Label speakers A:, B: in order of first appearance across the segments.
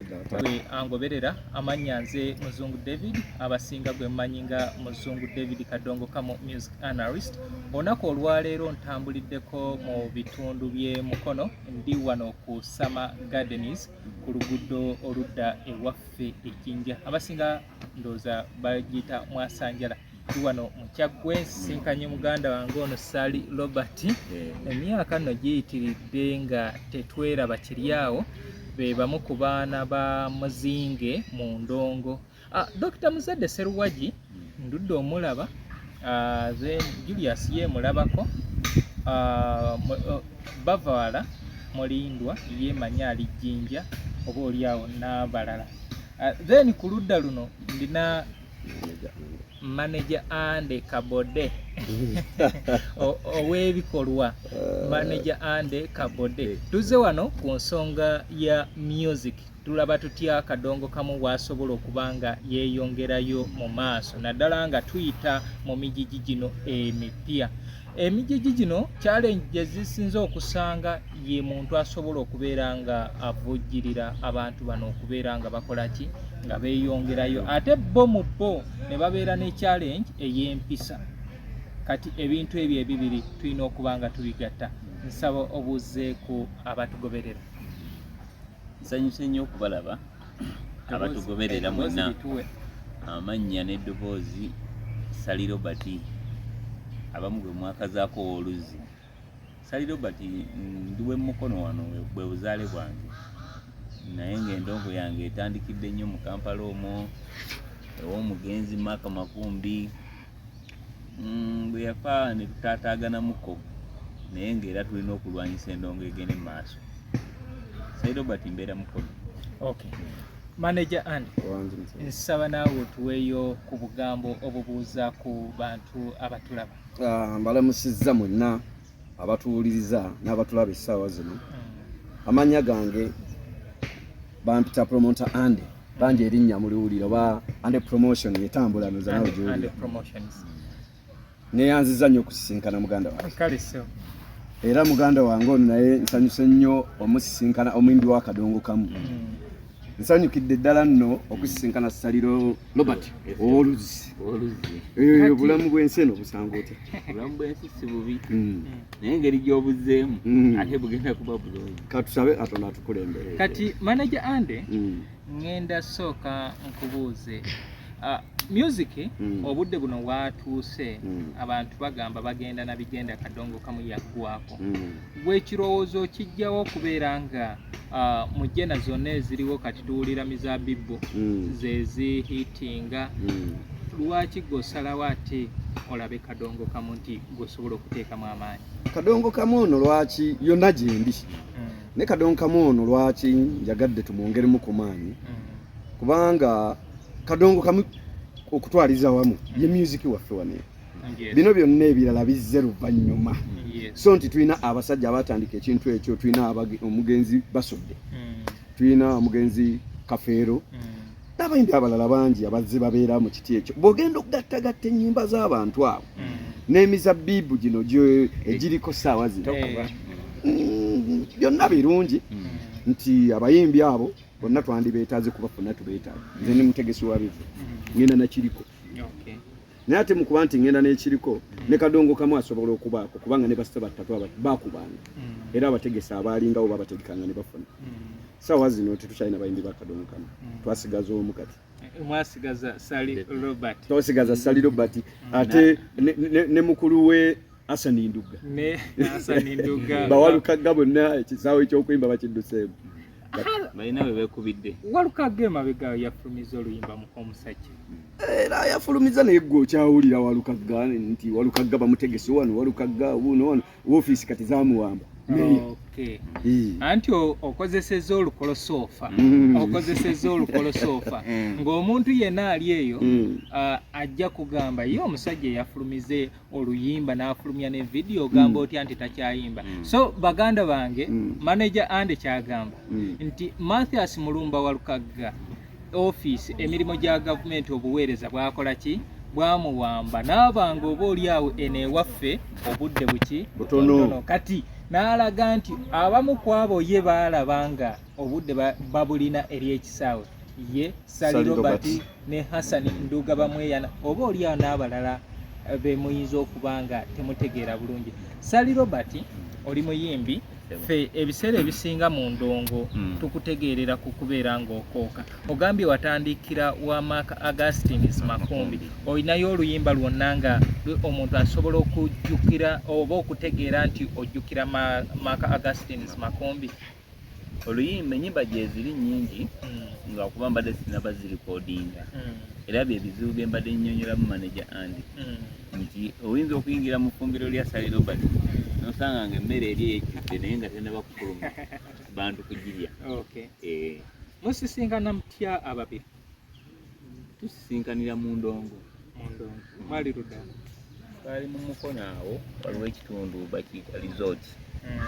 A: gwe angoberera amannya nze muzungu david abasinga gwe mmanyi nga muzungu david kadongo kamu music analyst olunaku olwaleero ntambuliddeko mu bitundu bye mukono ndi wano ku summer gardens ku luguudo oludda ewaffe ejjinja abasinga ndooza bagiyita mwasanjala ndi wano mu kyaggwe nsisinkanye muganda wange ono sali robert eh. emyaka nno giyitiridde nga tetweraba kiri awo be bamu ku baana ba muzinge mu ndongo ah, dr muzadde seruwagi hmm. ndudde omulaba ah, then julius ye mulabako ah, oh, bavaala mulindwa ye manya ali jjinja oba oli awo n'abalala then ku ludda luno ndina manager ande kabode owebikolwa uh, manager ande kabode tuze wano ku nsonga ya music tulaba tutya kadongo kamu wasobola okuba nga yeyongerayo mu maaso naddala nga tuyita mu mijiji gino emipya Emijiji gino challenge gye zisinze okusanga ye muntu asobola okubeera nga avujjirira abantu bano okubeera nga bakola ki nga beeyongerayo ate bo mu bo ne babeera ne challenge ey'empisa kati ebintu ebyo ebibiri tulina okuba nga tubigatta nsaba obuuzeeku abatugoberera
B: Nsanyuse nnyo okubalaba abatugoberera mwenna amannya n'eddoboozi Sali Robert abamu gwe mwakazaako ow'oluzzi Sali Robert ndi w'e Mukono wano bwe buzaale bwange naye ng'endongo yange etandikidde nnyo mu Kampala omwo ew'omugenzi Mark Makumbi mm, bwe yafa ne tutaataaganamuko naye ng'era tulina okulwanyisa endongo egende mu maaso sai robert mbeera mukono okay
A: manager and nsaba naawe otuweeyo ku bugambo obubuuza ku bantu abatulaba ah, mbalamusizza
C: mwenna abatuwuliriza n'abatulaba essaawa zino amannya gange bampita promonta ande bangi erinnya muliwulira oba ande promotion yetambula noza nawe gyoli neyanziza nnyo okusisinkana muganda wange
A: era muganda
C: wange ono naye nsanyuse nnyo omusisinkana omuyimbi wa kadongo kamu mm. nsanyukidde ddala nno okusisinkana saliro robert owoluzzi eh, obulamu bwensi eno obusanga otya obulamu bwensi si
B: bubi hmm. naye engeri gy'obuzeemu hmm. ate bugenda kuba bulungi katusabe katonda
C: atukulembere kati manaja
A: ande hmm. ngenda sooka nkubuuze ah, music mm. obudde buno watuuse mm. abantu bagamba bagenda na bigenda kadongo kamu yaggwako mm. w'ekirowoozo kijjawo okubeera nga uh, mu jena zonna eziriwo kati tuwulira mizabibbo mm. zezihitinga mm. lwaki gwosalawo ate olabe kadongo kamu nti gwosobola okuteekamu amaanyi kadongo kamu ono
C: lwaki yonna gyendi mm. ne kadongo kamu ono lwaki njagadde tumwongeremu ku maanyi mm. kubanga kadongo kamu okutwaliza wamu ye mm. music waffe waneyo bino byonna ebirala bizze luvannyuma so nti tulina abasajja abatandika ekintu ekyo tulina omugenzi basudde hmm. tulina omugenzi kafeero hmm. n'abayimbi abalala bangi abazze babeera mu kiti ekyo bw'ogenda okugattagatta ennyimba z'abantu abo hmm. n'emizabbiibu gino egiriko saawa zino eh. byonna birungi nti abayimbi abo bonna twandibeetaaze kubafuna tubeetaaga nze ni mutegesi wa bivu ngenda nakiriko naye ate mukuba nti ngenda nekiriko ne kadongo kamu asobola okubaako kubanga ne basita battatu aba bakubanga mm. era abategesa abaalingawo babategekanga ne bafuna mm. sawa zino tetukyalina bayimbi ba kadongo kamu mm. twasigaza omu kati
A: eh, mwasigaza sali robert
C: twasigaza sali robert ate ne mukulu we Asani Nduga ne Asani
A: Nduga bawalukagga bonna
C: ekisaawe ky'okuyimba bakidduseemu balina
B: bwe beekubidde walukagga emabega
A: yafulumiza oluyimba mu omusajja era
C: yafulumiza naye gwe okyawulira walukagga nti walukagga bamutegese wano walukagga wuno wano woofiisi kati zamuwamba
A: anti okozeseza olukolosoofa mm. okozeseza olukolosoofa mm. ng'omuntu yenna ali eyo mm. ajja kugamba ye omusajja eyafulumize oluyimba n'afulumya ne vidiyo ogamba mm. otya nti takyayimba mm. so baganda bange mm. manaja ande kyagamba nti mathias mulumba walukagga ofiisi emirimu gya gavumenti obuweereza bwakola ki bwamuwamba n'abanga oba oli awo eno ewaffe obudde buki butono kati n'alaga nti abamu ku abo ye baalaba nga obudde babulina eri ekisaawe ye sali robert ne Hassan Nduga Bamweyana oba olyawo n'abalala eh, be muyinza okuba nga temutegeera bulungi. Sally Robert oli muyimbi ffe ebiseera ebisinga mu ndongo hmm. tukutegeerera ku kubeera ng'okooka ogambye watandikira wa mark augustines makumbi olinayo oluyimba lwonna nga omuntu asobola okujjukira oba okutegeera nti ojjukira mark augustines makumbi oluyimba
B: enyimba gyeziri nyingi mm. nga kuba mbadde sinaba zirikodinga mm. era byebizibu byembadde nyonyolamu manaja andi mm. nti oyinza okuyingira mu fumbiro lya sali robert nosanga nga emmere eri eyekidde naye nga tenaba kukuluma bantu kugirya eh. musisinkana
A: mutya ababiri tusisinkanira
B: mu ndongo mwali
A: ludda twali mu
B: mukono awo waliwo ekitundu bakiyita resort hmm.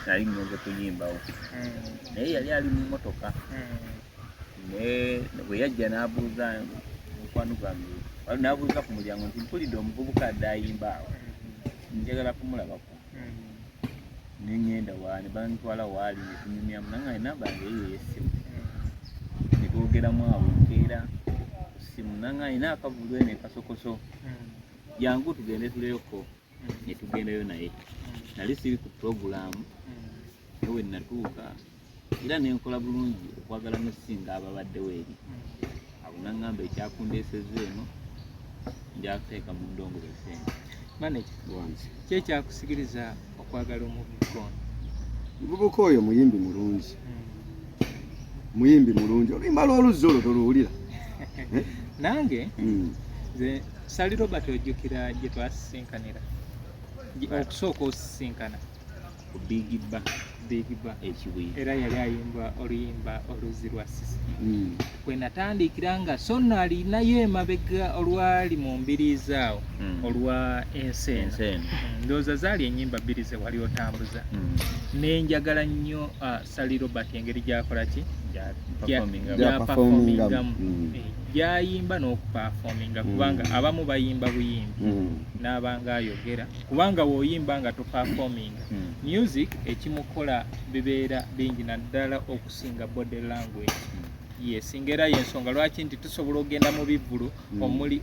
B: nali ngenze kuyimbawo hmm. naye yali ali mu motoka hmm. bwe yajja n'abuuza mukwano gwange n'abuuza ku mulyango nti mpulidde omuvubuka adde ayimba awo njagala kumulabako nengenda wani bantwala waali netunyumyamu nanga enamba yange eyo eyesimu netwogeramu awo nkeera simu nanga alina akavulwe nekasokoso jangu tugende tuleyoko netugendayo naye nali siri ku puroguramu ewe natuuka era ne nkola bulungi okwagala n'okusinga ababaddewo eri abo naŋŋamba ekyakundeesezza eno njakuteeka mu ndongo besente maneja
A: ki ekyakusikiriza okwagala omuvubuka ono omuvubuka
C: oyo muyimbi mulungi hmm. muyimbi mulungi oluyimba lw'oluzzi olwo toluwulira
A: nange hmm. nze sali robert ojjukira gye twasisinkanira okusooka osisinkana
B: bigibba bigibba ekibuye era yali ayimba
A: oluyimba oluzi lwa sisi mm. kwe natandikira nga so no alinayo emabega olwali mu mbiriizi awo mm. olwa ensi eno mm. ndowooza zaali enyimba bbiri ze wali otambuza mm. nenjagala nnyo uh, Sally Robert engeri gyakola ki gyapafomingamu mm. eh, gyayimba n'okupafominga mm. kubanga abamu bayimba buyimbi mm. n'abanga ayogera kubanga woyimba nga topafominga music ekimukola bibeera bingi naddala okusinga body language yes ngera yensonga lwaki nti tusobola okugenda mu bivvulu mm. omuli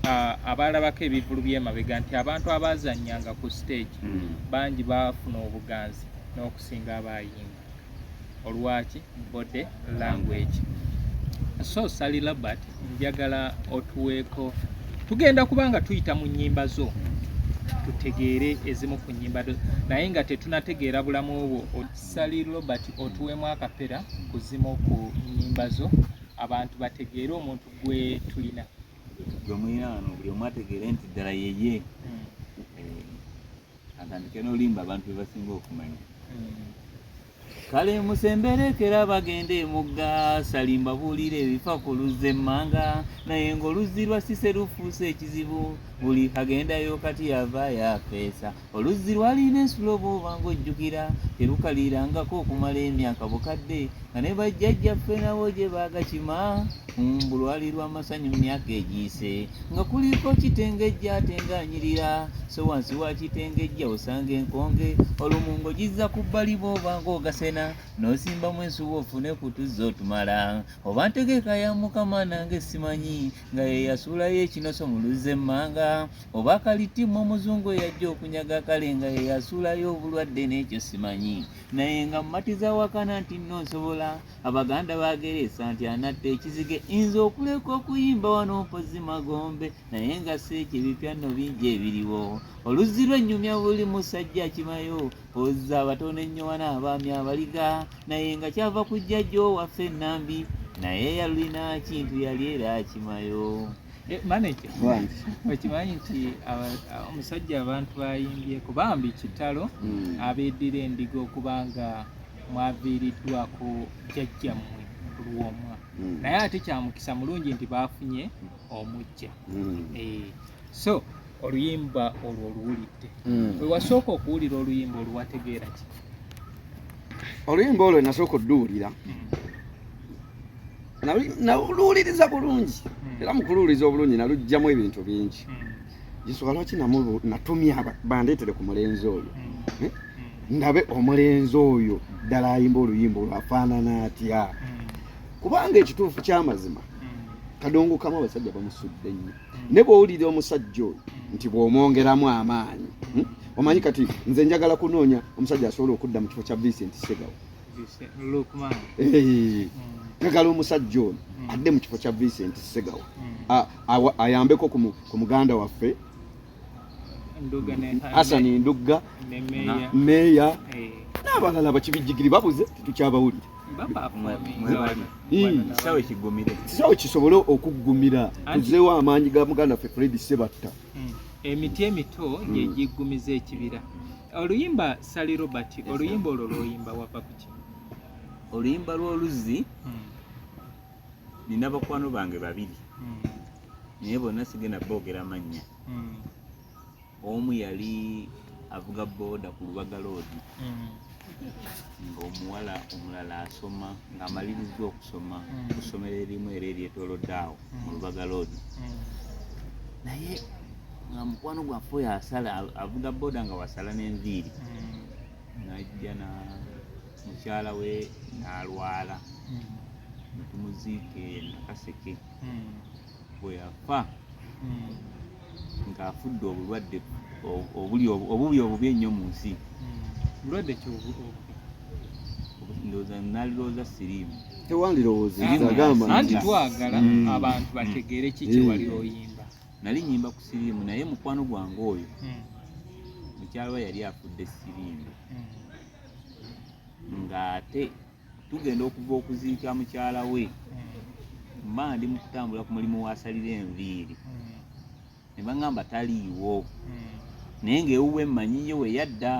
A: abaalabako ebivvulu byemabega nti abantu abazanyanga ku stage mm. bangi baafuna obuganzi okusinga abayimba olwaki body language so sali labert njagala otuweeko tugenda kubanga tuyita mu nyimba zo tutegeere ezimu ku nyimba do naye nga tetunategeera bulamu obwo sali robert otuweemu akapera ku zimu ku nyimba zo abantu bategeere omuntu gwe tulina gwe
B: mulinaano buli omu ategeere nti ddala yeye hmm. atandike n'olimba abantu be basinga okumanya kale musemberekera bagenda emugga salimba buulira ebifa ku luzzi emmanga naye ng'oluzzi lwa sise lufuuse ekizibu buli agendayo kati yava yafeesa oluzzi lwalina ensulo bwoba ng'ojjukira terukalirangako okumala emyaka bukadde nga ne bajjajjaffe nabo gye baagakima mu lwali lw'amasanyu mu myaka egiyise nga kuliko kitengejja ate ng'anyirira so wansi wa kitengejja osanga enkonge olumu ng'ogizza ku bbali bw'oba ng'ogasena n'osimbamu ensuwa ofune ku tuzza otumala oba ntegeka ya mukama nange simanyi nga ye yasuulayo ekinoso mu luzza emmanga oba kalitimmu omuzungu eyajja okunyaga kale nga ye yasuulayo obulwadde n'ekyo simanyi naye nga mumatiza wakana nti nno nsobola abaganda bageresa nti anatta ekizige nze okuleka okuyimba wano mpozi magombe naye nga si ekyo ebipya nno bingi ebiriwo oluzzi lwennyumya buli musajja akimayo oza abatono ennyo wana abaami abaliga naye nga kyava kujjajjo waffe enambi naye yalulina kintu yali era akimayo Eh,
A: manager okimanyi nti omusajja abantu bayimbyeko bambi kitalo hmm. abeddira endiga okuba nga mwaviiriddwako jajjammwe lwomwa hmm. naye ate kyamukisa mulungi nti baafunye omujja hmm. eh, so oluyimba olwo oluwulidde wewasooka okuwulira oluyimba oluwategeera ki
C: oluyimba olwo nasooka odduwulira naluwuliriza bulungi hmm. era mukuluwuliriza obulungi nalugjamu ebintu bingi nsonga hmm. lwaki natumya bandeetere ku mulenzi oyo hmm. eh? ndabe omulenzi oyo ddala ayimba oluyimba olwafaanana atya kubanga ekituufu kyamazima kadongo kamu abasajja bamusudde nnyo ne bwowulira omusajja oyo nti bw'omwongeramu amaanyi omanyi kati nze njagala kunoonya omusajja asobola okudda mu kifo kya vincent segawa njagala omusajja ono mm. adde mu kifo kya Vincent Segawa mm. ayambeko ku muganda waffe Hassan Ndugga meeya eh. n'abalala bakibijjigiri babuze tetukyabawulira kisaawe kisobole okuggumira tuzeewo amaanyi ga muganda ffe Fred Sebatta mm. emiti
A: emito gyegiggumiza ekibira oluyimba sali robert oluyimba olwo lwoyimba wava kuki oluyimba
B: lw'oluzzi hmm. nina bakwano bange babiri hmm. naye bonna sigenda boogera mannya hmm. omu yali avuga booda ku lubaga loodi ng'omuwala omulala asoma ng'amalirizza okusoma ku ssomero erimu era eryetolodde awo mu lubaga loodi hmm. naye nga mukwano gwaffe oyo asala avuga boda nga wasala n'enviiri hmm. najja na mukyala we n'alwala hmm. netumuziike nakaseke bwe yafa ng'afudde obulwadde obubi obubi ennyo mu nsi bulwadde
A: ki
B: ndowooza nalirowooza siriimu tewandirowoozanti
C: twagala
A: mm. abantu bategeere ki kyewali mm. oyimba nali nyimba ku
B: siriimu naye mukwano gwange oyo mm. mukyalo yali afudde siriimu ng'ate tugenda okuva okuziika mukyala we mba ndi mu kutambula ku mulimu wasalira enviiri ne baŋŋamba taliiwo naye ng'ewuwe mmanyiyo we yadda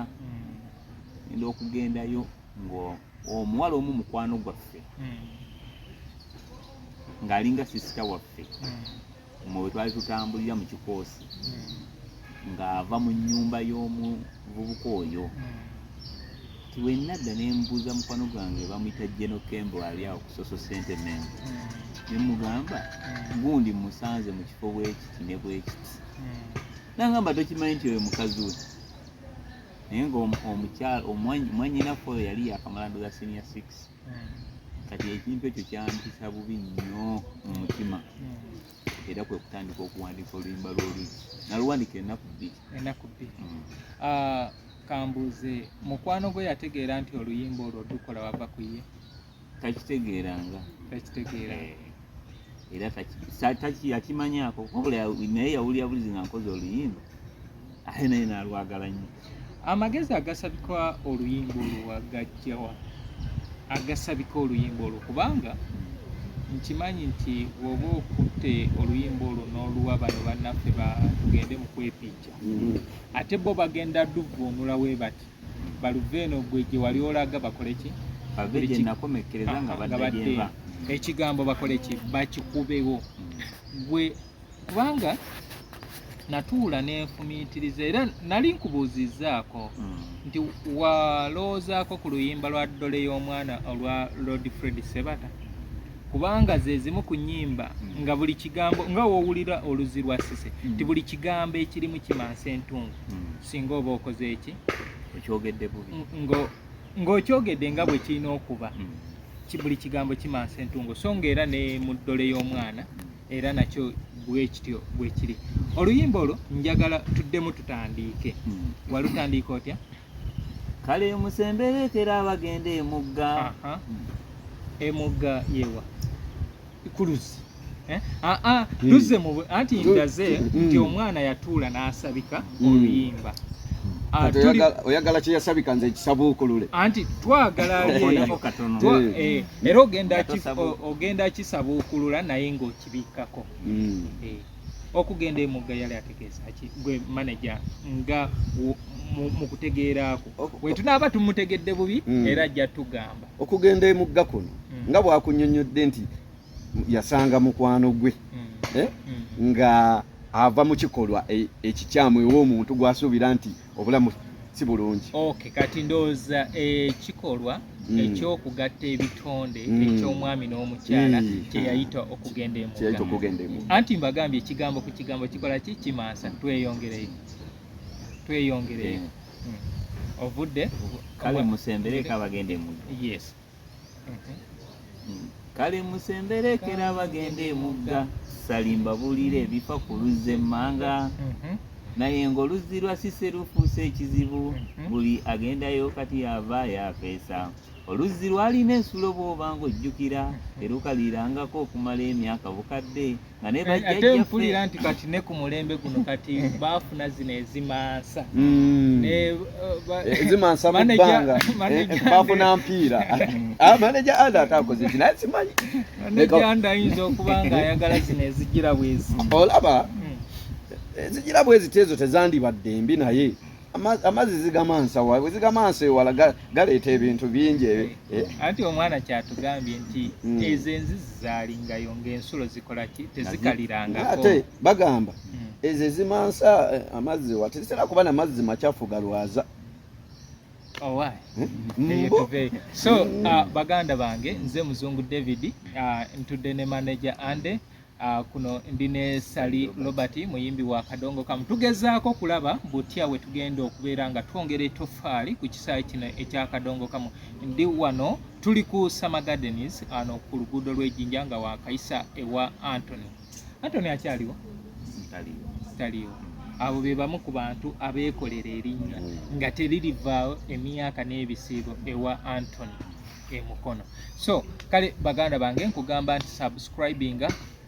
B: enda okugendayo ng'omuwala omu mukwano gwaffe ng'alinga sisita waffe mu bwe twali tutambulira mu kikoosi hmm. ng'ava mu nnyumba y'omuvubuka oyo nti hmm. wenna dda ne mbuuza mukwano gwange bamuyita geno kembo ali awo ku soso sentemen hmm. ne mugamba gundi musanze mu kifo bwekiti ne bwekiti nangamba tokimanyi nti oyo mukazi we naye ng'omukyala omwanyinafe oyo yali yakamala ndoza senior six kati ekintu ekyo kyampisa bubi nnyo mu mutima era kwe kutandika okuwandiika oluyimba lw'oluyi naluwandiika ennaku bbiri ennaku bbiri mm. ah, kambuuze
A: mukwano gwe yategeera nti oluyimba olwo dukola wava ku ye takitegeeranga
B: takitegeera eh. era taki yakimanyaako wabula naye yawulira bulizi nga nkoze oluyimba ate naye nalwagala nnyo amagezi
A: agasabika oluyimba olwo wagajjawa agasabika oluyimba olwo kubanga nkimanyi nti woba okutte oluyimba olwo n'oluwa bano bannaffe batugende mu kwepiija mm-hmm. ate bo bagenda luvvuunula we bati baluveeno gwe gye wali olaga bakole ki bave gye nakomekkereza
B: nga badda gyeva ekigambo
A: bakole ki bakikubewo hmm. gwe kubanga natuula nenfumiitiriza era nali nkubuuzizzaako hmm. nti walowoozaako ku luyimba lwa ddole y'omwana olwa lord fred sebata kubanga zezimu ku nyimba hmm. nga buli kigambo nga wowulira oluzi lwa sise nti buli kigambo ekirimu kimansa entungu singa oba okoze eki okyogedde
B: bubi ng'okyogedde
A: nga bwe kirina okuba hmm. buli kigambo kimansa entungo so nga era ne mu ddole y'omwana hmm. era nakyo bwekityo bwekiri oluyimba olwo njagala tuddemu tutandiike hmm. walutandiika otya kale
B: musemberekera abagenda emugga
A: emugga yewa kuluzi eh? ah, ah, hmm. luze mu anti ndaze hmm. nti omwana yatuula n'asabika hmm. oluyimba ah,
C: oyagala kyeyasabika nze kisabuukulule anti twagala
A: eh, era ogenda kisabuukulula naye ng'okibikkako eh, okugenda emugga yali ategeeza ki gwe manaja nga mu kutegeeraako wetunaaba tumutegedde bubi era ajja tugamba okugenda emugga
C: kuno mm. nga bwakunyonyodde nti yasanga mukwano gwe mm. eh? mm. nga ava mu kikolwa e, ekikyamu ew'omuntu gwasuubira nti obulamu si bulungi ok kati ndowooza
A: ekikolwa mm. ekyokugatta ebitonde mm. ekyomwami n'omukyala mm. kyeyayita okugenda emugga anti mbagambye ekigambo ku kigambo kikola ki kimansa tweyongereyo tweyongereyo eh. ovudde kale
B: musembereka bagende mu yes kale musemberekera bagende emugga salimba bulire ebifa ku luzze emmanga mhm. naye ng'oluzzi lwa sise lufuuse ekizibu mhm. buli agendayo kati yava yafeesa oluzzi lwalina ensulo bw'oba ng'ojjukira mhm. terukalirangako okumala emyaka bukadde Eh, ate mpulira nti
A: kati ne ku mulembe guno kati baafuna zino
C: ezimansa hmm. eh, eh, ezimansa mubbanga baafuna mpiira ah, maneja anda ate akoze ki naye simanyi maneja anda
A: ayinza okuba nga ayagala zino ezijira bwezi olaba
C: hmm. ezijira bwezi tezo tezandibadde mbi naye amazzi zigamansa wa bwe zigamansa ewala galeeta ebintu bingi eh, eh. anti omwana
A: kyatugambye nti hmm. ezo enzizi zalingayo ng'ensulo zikola ki tezikalirangako ate bagamba
C: hmm. ezo ezimansa eh, amazzi wa tezitera kuba na mazzi macafu galwaza Oh, hmm.
A: so uh, baganda bange nze muzungu david uh, ntudde ne manager ande Uh, kuno ndi ne Sali Robert muyimbi wa Kadongo Kamu. Tugezaako okulaba butya we tugenda okubeera nga twongera etoffaali ku kisaawe kino ekya Kadongo Kamu. Ndi wano tuli ku Summer Gardens ano ku luguudo lw'ejjinja nga wakayisa ewa Anthony. Anthony akyaliwo? Taliwo. Taliwo. Abo be bamu ku bantu abeekolera erinnya mm. nga teririvaawo emyaka n'ebisiibo ewa Anthony. e Mukono. So kale baganda bange nkugamba nti subscribing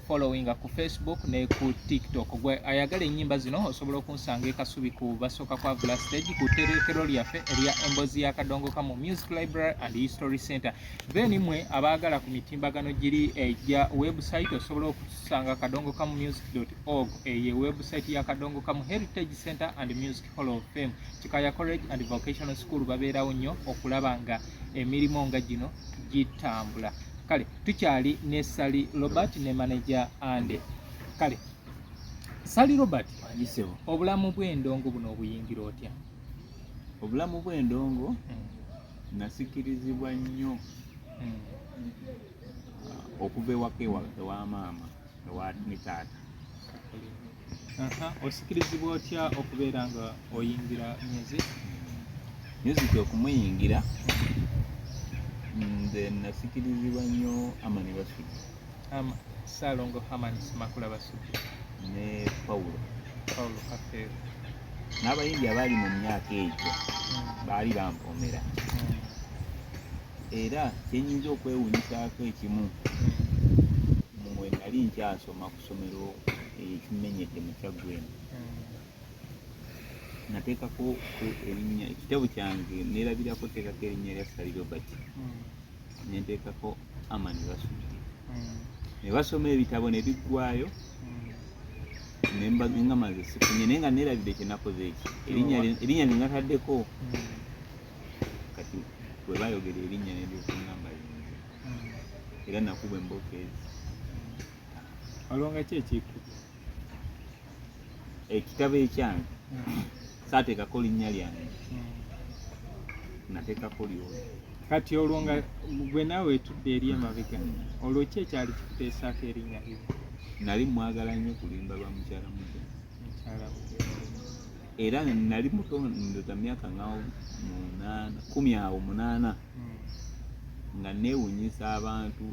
A: following ku Facebook ne ku TikTok. Gwe ayagala ennyimba zino osobola okunsanga e Kasubi ku basooka kwa Vula Stage ku terekero lyaffe erya Embozi ya Kadongoka mu Music Library and History Center. Then mwe abaagala ku mitimbagano giri egya eh, website osobola okusanga kadongokamusic.org eye eh, website ya Kadongokamu Heritage Center and Music Hall of Fame. Kikaya College and Vocational School babeerawo nnyo okulaba nga emirimu nga gino gitambula kale tukyali ne sali robert ne manaja ande kale sali robert obulamu bw'endongo buno obuyingira otya obulamu
B: bw'endongo hmm. nasikirizibwa nnyo hmm. okuva ewaka ewa maama ewa ne taata
A: osikirizibwa otya okubeera nga oyingira music
B: music okumuyingira nze nasikirizibwa nnyo amani basudi
A: salongo hamani simakula basudi ne
B: paulo paulo kafeero n'abayimbi abaali mu myaka egyo hmm. baali bampomera hmm. era kyenyinza okwewunyisaako ekimu hmm. mwe nali nkyasoma somero ekimenyedde mu kyaggwe eno nateekako erinnya ekitabo kyange neerabirako teekako erinnya lya sali robert nenteekako aman basoma ne basoma ebitabo ne biggwayo nga maze sifunye naye nga neerabidde kyenakoze eki erinnya linataddeko kati bwe bayogera erinnya nendyokuŋamba era nakuba emboka ezi
A: alonga ki ekiku
B: ekitabo ekyange hmm. saateekako linnya lyange hmm. nateekako lyoli kati olwo nga
A: gwe naawe etudde eri emabega olwo ki ekyali kikuteesaako erinnya lyo nali mwagala
B: nnyo kulimba lwa mukyala muja era nali mutondoza myaka nga munaana kumi awo munaana nga neewunyisa abantu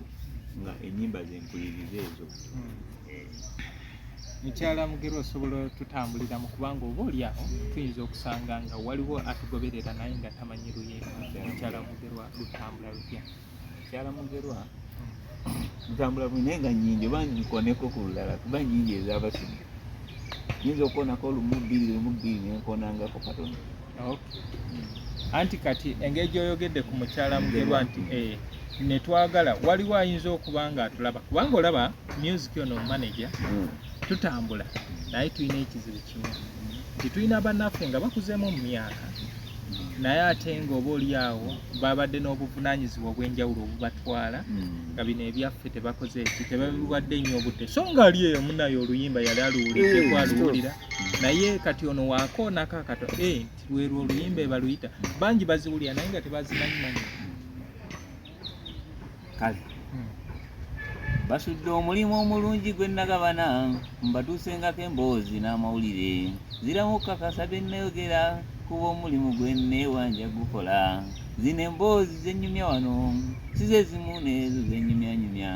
B: nga enyimba zempuliriza ezo hmm.
A: eh. mukyala mugero osobola tutambulira mu kubanga oba oli awo tuyinza okusanga nga waliwo atugoberera naye nga tamanyi luyimba mukyala mugerwa lutambula lutya mukyala mugerwa
B: hmm. ntambula bwine nga nyingi oba nkoneko ku lulala kuba nyingi ezabasumi nyinza okukonako lumu bbiri lumu bbiri nenkonangako katono
A: anti kati engeri gyoyogedde ku mukyala mugerwa nti eh, netwagala waliwo ayinza okuba nga atulaba kubanga olaba music ono omumaneja hmm. tutambula naye tulina ekizibu kimu nti tulina bannaffe nga bakuzeemu mu myaka naye ate nga oba oli awo babadde n'obuvunanyizibwa obw'enjawulo obubatwala hmm. nga bino ebyaffe tebakoze eki tebabiwadde nnyo obudde so nga ali eyo munaye oluyimba yali aluwulidde eh, kwaluwulira naye kati ono wakoonako akato eh, nti lwerwo oluyimba ebaluyita bangi baziwulira naye nga tebazimanyi manyi
B: kale hmm. basudde omulimu omulungi gwe nagabana mbatuusengako emboozi n'amawulire ziramu okukakasa bye nnayogera kuba omulimu gwe nneewanja gukola zino emboozi zenyumya wano sizezimu neezo zenyumyanyumya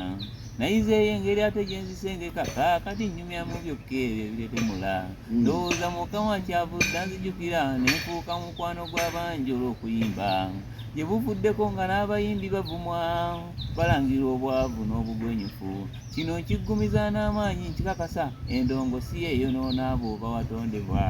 B: nayizeeyo engeri ate gyenzisengeka kaakati nnyumya mu byokka ebyo ebiretemula hmm. ndowooza mukama kyavudde anzijukira nenfuuka mukwano gw'abangi olw'okuyimba gye buvuddeko nga n'abayimbi bavumwa balangirwa obwavu n'obugwenyufu kino nkiggumiza n'amaanyi nkikakasa endongo si yeeyonoona abo bawatondebwa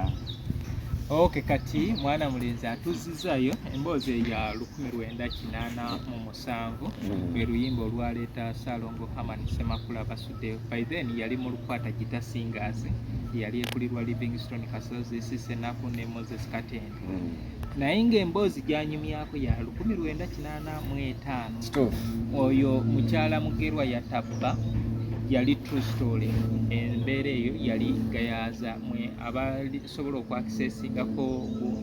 A: ok kati mwana mulenzi atuzizayo emboozi eya lukumi lwenda kinaana mu musanvu mm. lwe luyimba olwaleeta Salongo Herman Semakula Basude by then yali mu lukwata gita singers yali ekulirwa Livingstone Kasozi Sisenaku ne Moses Katende mm. naye ng'emboozi gyanyumyako ya lukumi lwenda kinaana mu etaano oyo mukyala Mugerwa yatabba yali true story embeera eyo yali gayaaza mwe abali asobola okwakiseesingako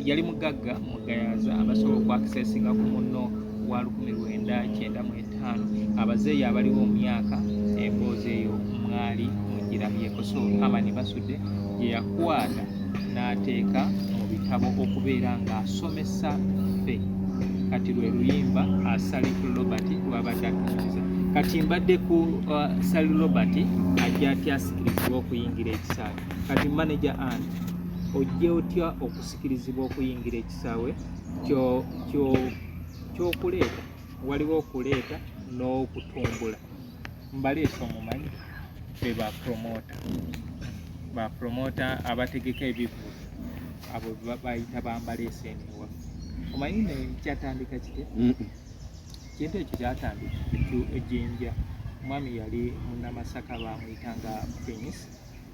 A: yali mugagga mugayaza abasobola okwakiseesingako munno wa lukumi lwenda kyenda mu etaano abazeeyi abaliwo mu myaka emboozi eyo mwali mugirabyeko so amani basudde gye yakwata n'ateeka mu bitabo okubeera ng'asomesa ffe kati lwe luyimba asali uh, robert lwabadde atuukiza kati mbadde ku uh, sali robert ajja atyasikiriziwa okuyingira ekisaala Kati manager Ann, ojje otya okusikirizibwa okuyingira ekisaawe ky'okuleeta? Waliwo okuleeta n'okutumbula. Mbaleese omumanyi be ba promota, ba promota abategeka ebivulu abo bayita bambaleese eno ewaffe. Omanyi ne kyatandika kite? Kintu ekyo kyatandika ejinja. Omwami yali munnamasaka bamuyita nga Prince.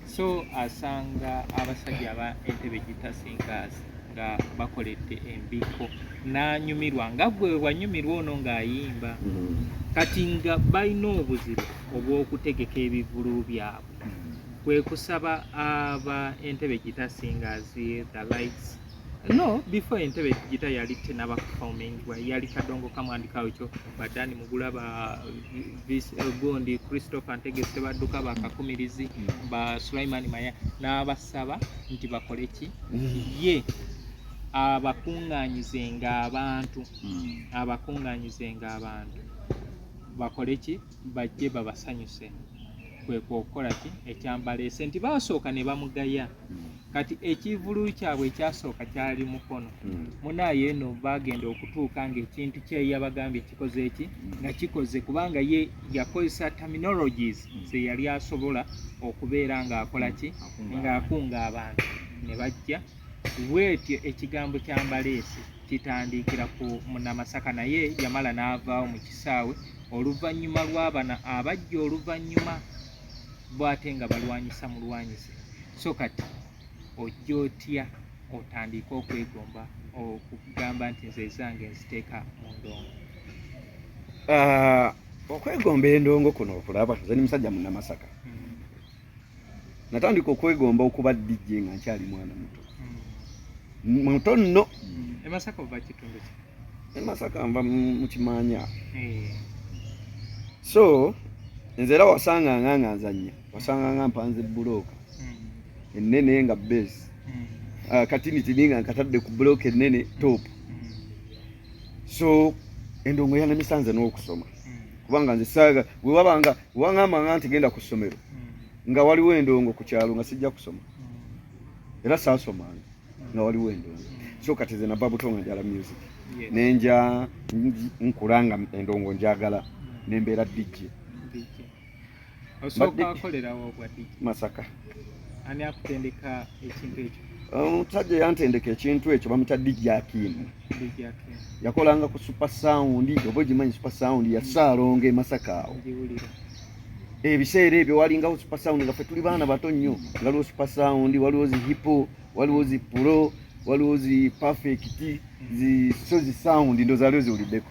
A: so asanga abasajja aba entebe gitasingaasi nga bakoledde embiko n'anyumirwa nga gwe wanyumirwa ono ng'ayimba mm-hmm. kati nga balina obuzibu obw'okutegeka ebivulu byabwe mm-hmm. kwe kusaba aba entebe gitasingaasi the lights No, before Entebbe Gita yali tenaba performing wa yali kadongo kamwandi kawcho badani mugula ba this uh, gondi Christopher Ntege Sebaduka ba kakumirizi mm. ba Sulaiman Maya n'abasaba nti bakole ki mm. ye abakunganyize nga abantu mm. abakunganyize nga abantu bakole ki bajje babasanyuse kwekwokukola ki ekyambaleese nti baasooka ne bamugaya hmm. kati ekivululu kyabwe ekyasooka kyali mukono hmm. munaye eno bagenda okutuuka ngaekintu kyeyabagambye kikoze eki hmm. nga kikoze kubanga ye yakozesa terminologies zeyali asobola okubeera ngaakola ki ngaakunga abantu ne bajja bwetyo ekigambo kya mbaleese kitandiikira ku munamasaka naye yamala n'avaawo mu kisaawe oluvannyuma lw'abana abajja oluvannyuma bwate nga balwanyisa mulwanyise so kati ojja otya otandike okwegomba okugamba nti nze ezange nziteeka mu ndongo ah,
C: okwegomba endongo kuno okulaba nze ni musajja munamasaka natandika okwegomba okuba DJ nga nkyali mwana muto hmm. muto nno hmm. emasaka ova
A: kitundu ki emasaka nva
C: mukimanya eh. so nze era wasanganga nga nzanya wasanganga mpanze bulooka hmm. ennene nga base ah, katinitini nga nkatadde ku bulooka ennene topu so endongo yanamisanze n'okusoma kubanga nze saaga gwe wabanga wangamba nga nti genda ku ssomero hmm. nga waliwo endongo ku kyalo nga sijja kusoma hmm. era saasomanga hmm. nga waliwo endongo so kati ze nava buto nga njala music nenja nkulanga endongo njagala nembeera dijje Osooka
A: akolera wa obwa DJ? Masaka. Ani akutendeka ekintu ekyo? Omusajja um, yantendeka
C: ekintu ekyo bamuyita DJ Akim. DJ Akim. Yakolanga ku Super Sound, oba ogimanyi Super Sound ya Ssaalongo e Masaka awo. Ngiwulira. Ebiseera ebyo walingawo Super Sound nga ffe tuli baana bato nnyo. Waliwo Super Sound, waliwo zi hipo, waliwo zi pulo, waliwo zi perfect, zi sozi sound ndo zaliwo ziwuliddeko.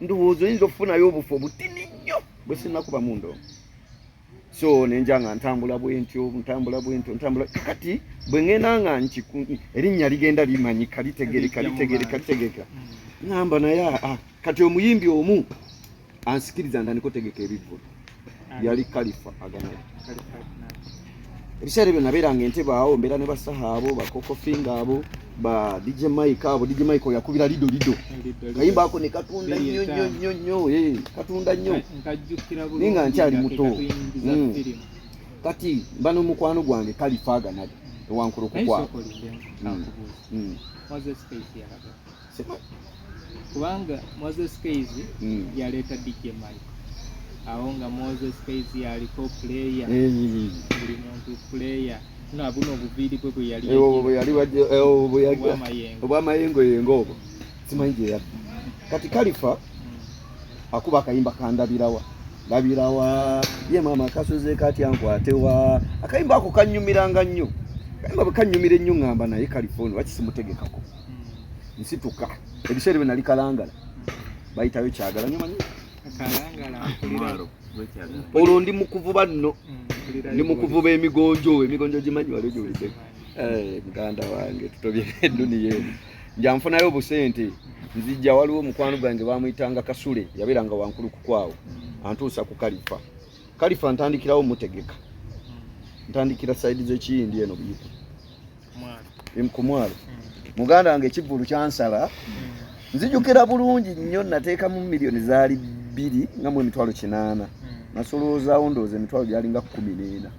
C: ndowooza oyinza okufunayo obufu obutini nnyo bwe sinakuba mu ndongo so nenja nga ntambula bwentyo ntambula bwentyo ntambula kati bwe ŋŋenda nga erinnya ligenda limanyika litegereka litegereka litegereka ŋamba naye ah, ah, kati omuyimbi omu ansikiriza ndaniko tegeka ebivvulu yali kalifa agana ebiseera ebyo nabeeranga entebe awo mbeera ne basaha abo bakokofinga abo ba dj mike abo dj mike oyakubira lido lido kayimba ako ne katunda nnyo nnyo nnyo nnyo eh, katunda nnyo naye nga nkyali muto hmm. kati mba n'omukwano gwange kalifa aganali ewankulukukwaa
A: kubanga Moses Kayz mm. yaleeta DJ Mike awo nga Moses Kayz yaliko player mm. buli muntu player nabuno obuviiri bwe bweyaliobwamayengo yengo obwo simanyi gyeyabbi kati kalifa mm. akuba akayimba kandabirawa ndabirawa ye maama akasuze kati ankwatewa akayimba ako kanyumiranga nnyo kayimba bwe kanyumira ennyo ngamba naye kalifa ono wakisimutegekako nsituka ebiseera byo nali kalangala bayitayo kyagala nyo manyi olwo ndi mukuvuba nno mm, ndi mukuvuba emigonjo emigonjo gimanyi wali ogiwulidde eh, muganda wange tutobye eduniya eno njanfunayo obusente nzijja waliwo omukwano gwange bamuyitanga kasule yabeeranga wankulu kukwawo mm. antuusa ku kalifa kalifa ntandikirawo mutegeka ntandikira saidi zekiyindi eno buyika ku mwalo hmm. muganda wange ekivvulu kyansala hmm. nzijukira bulungi nnyo nateekamu miliyoni zaali bbiri nga mu emitwalo kinaana hmm. nasoloozaawo ndooza emitwalo gyalinga kumi n'ena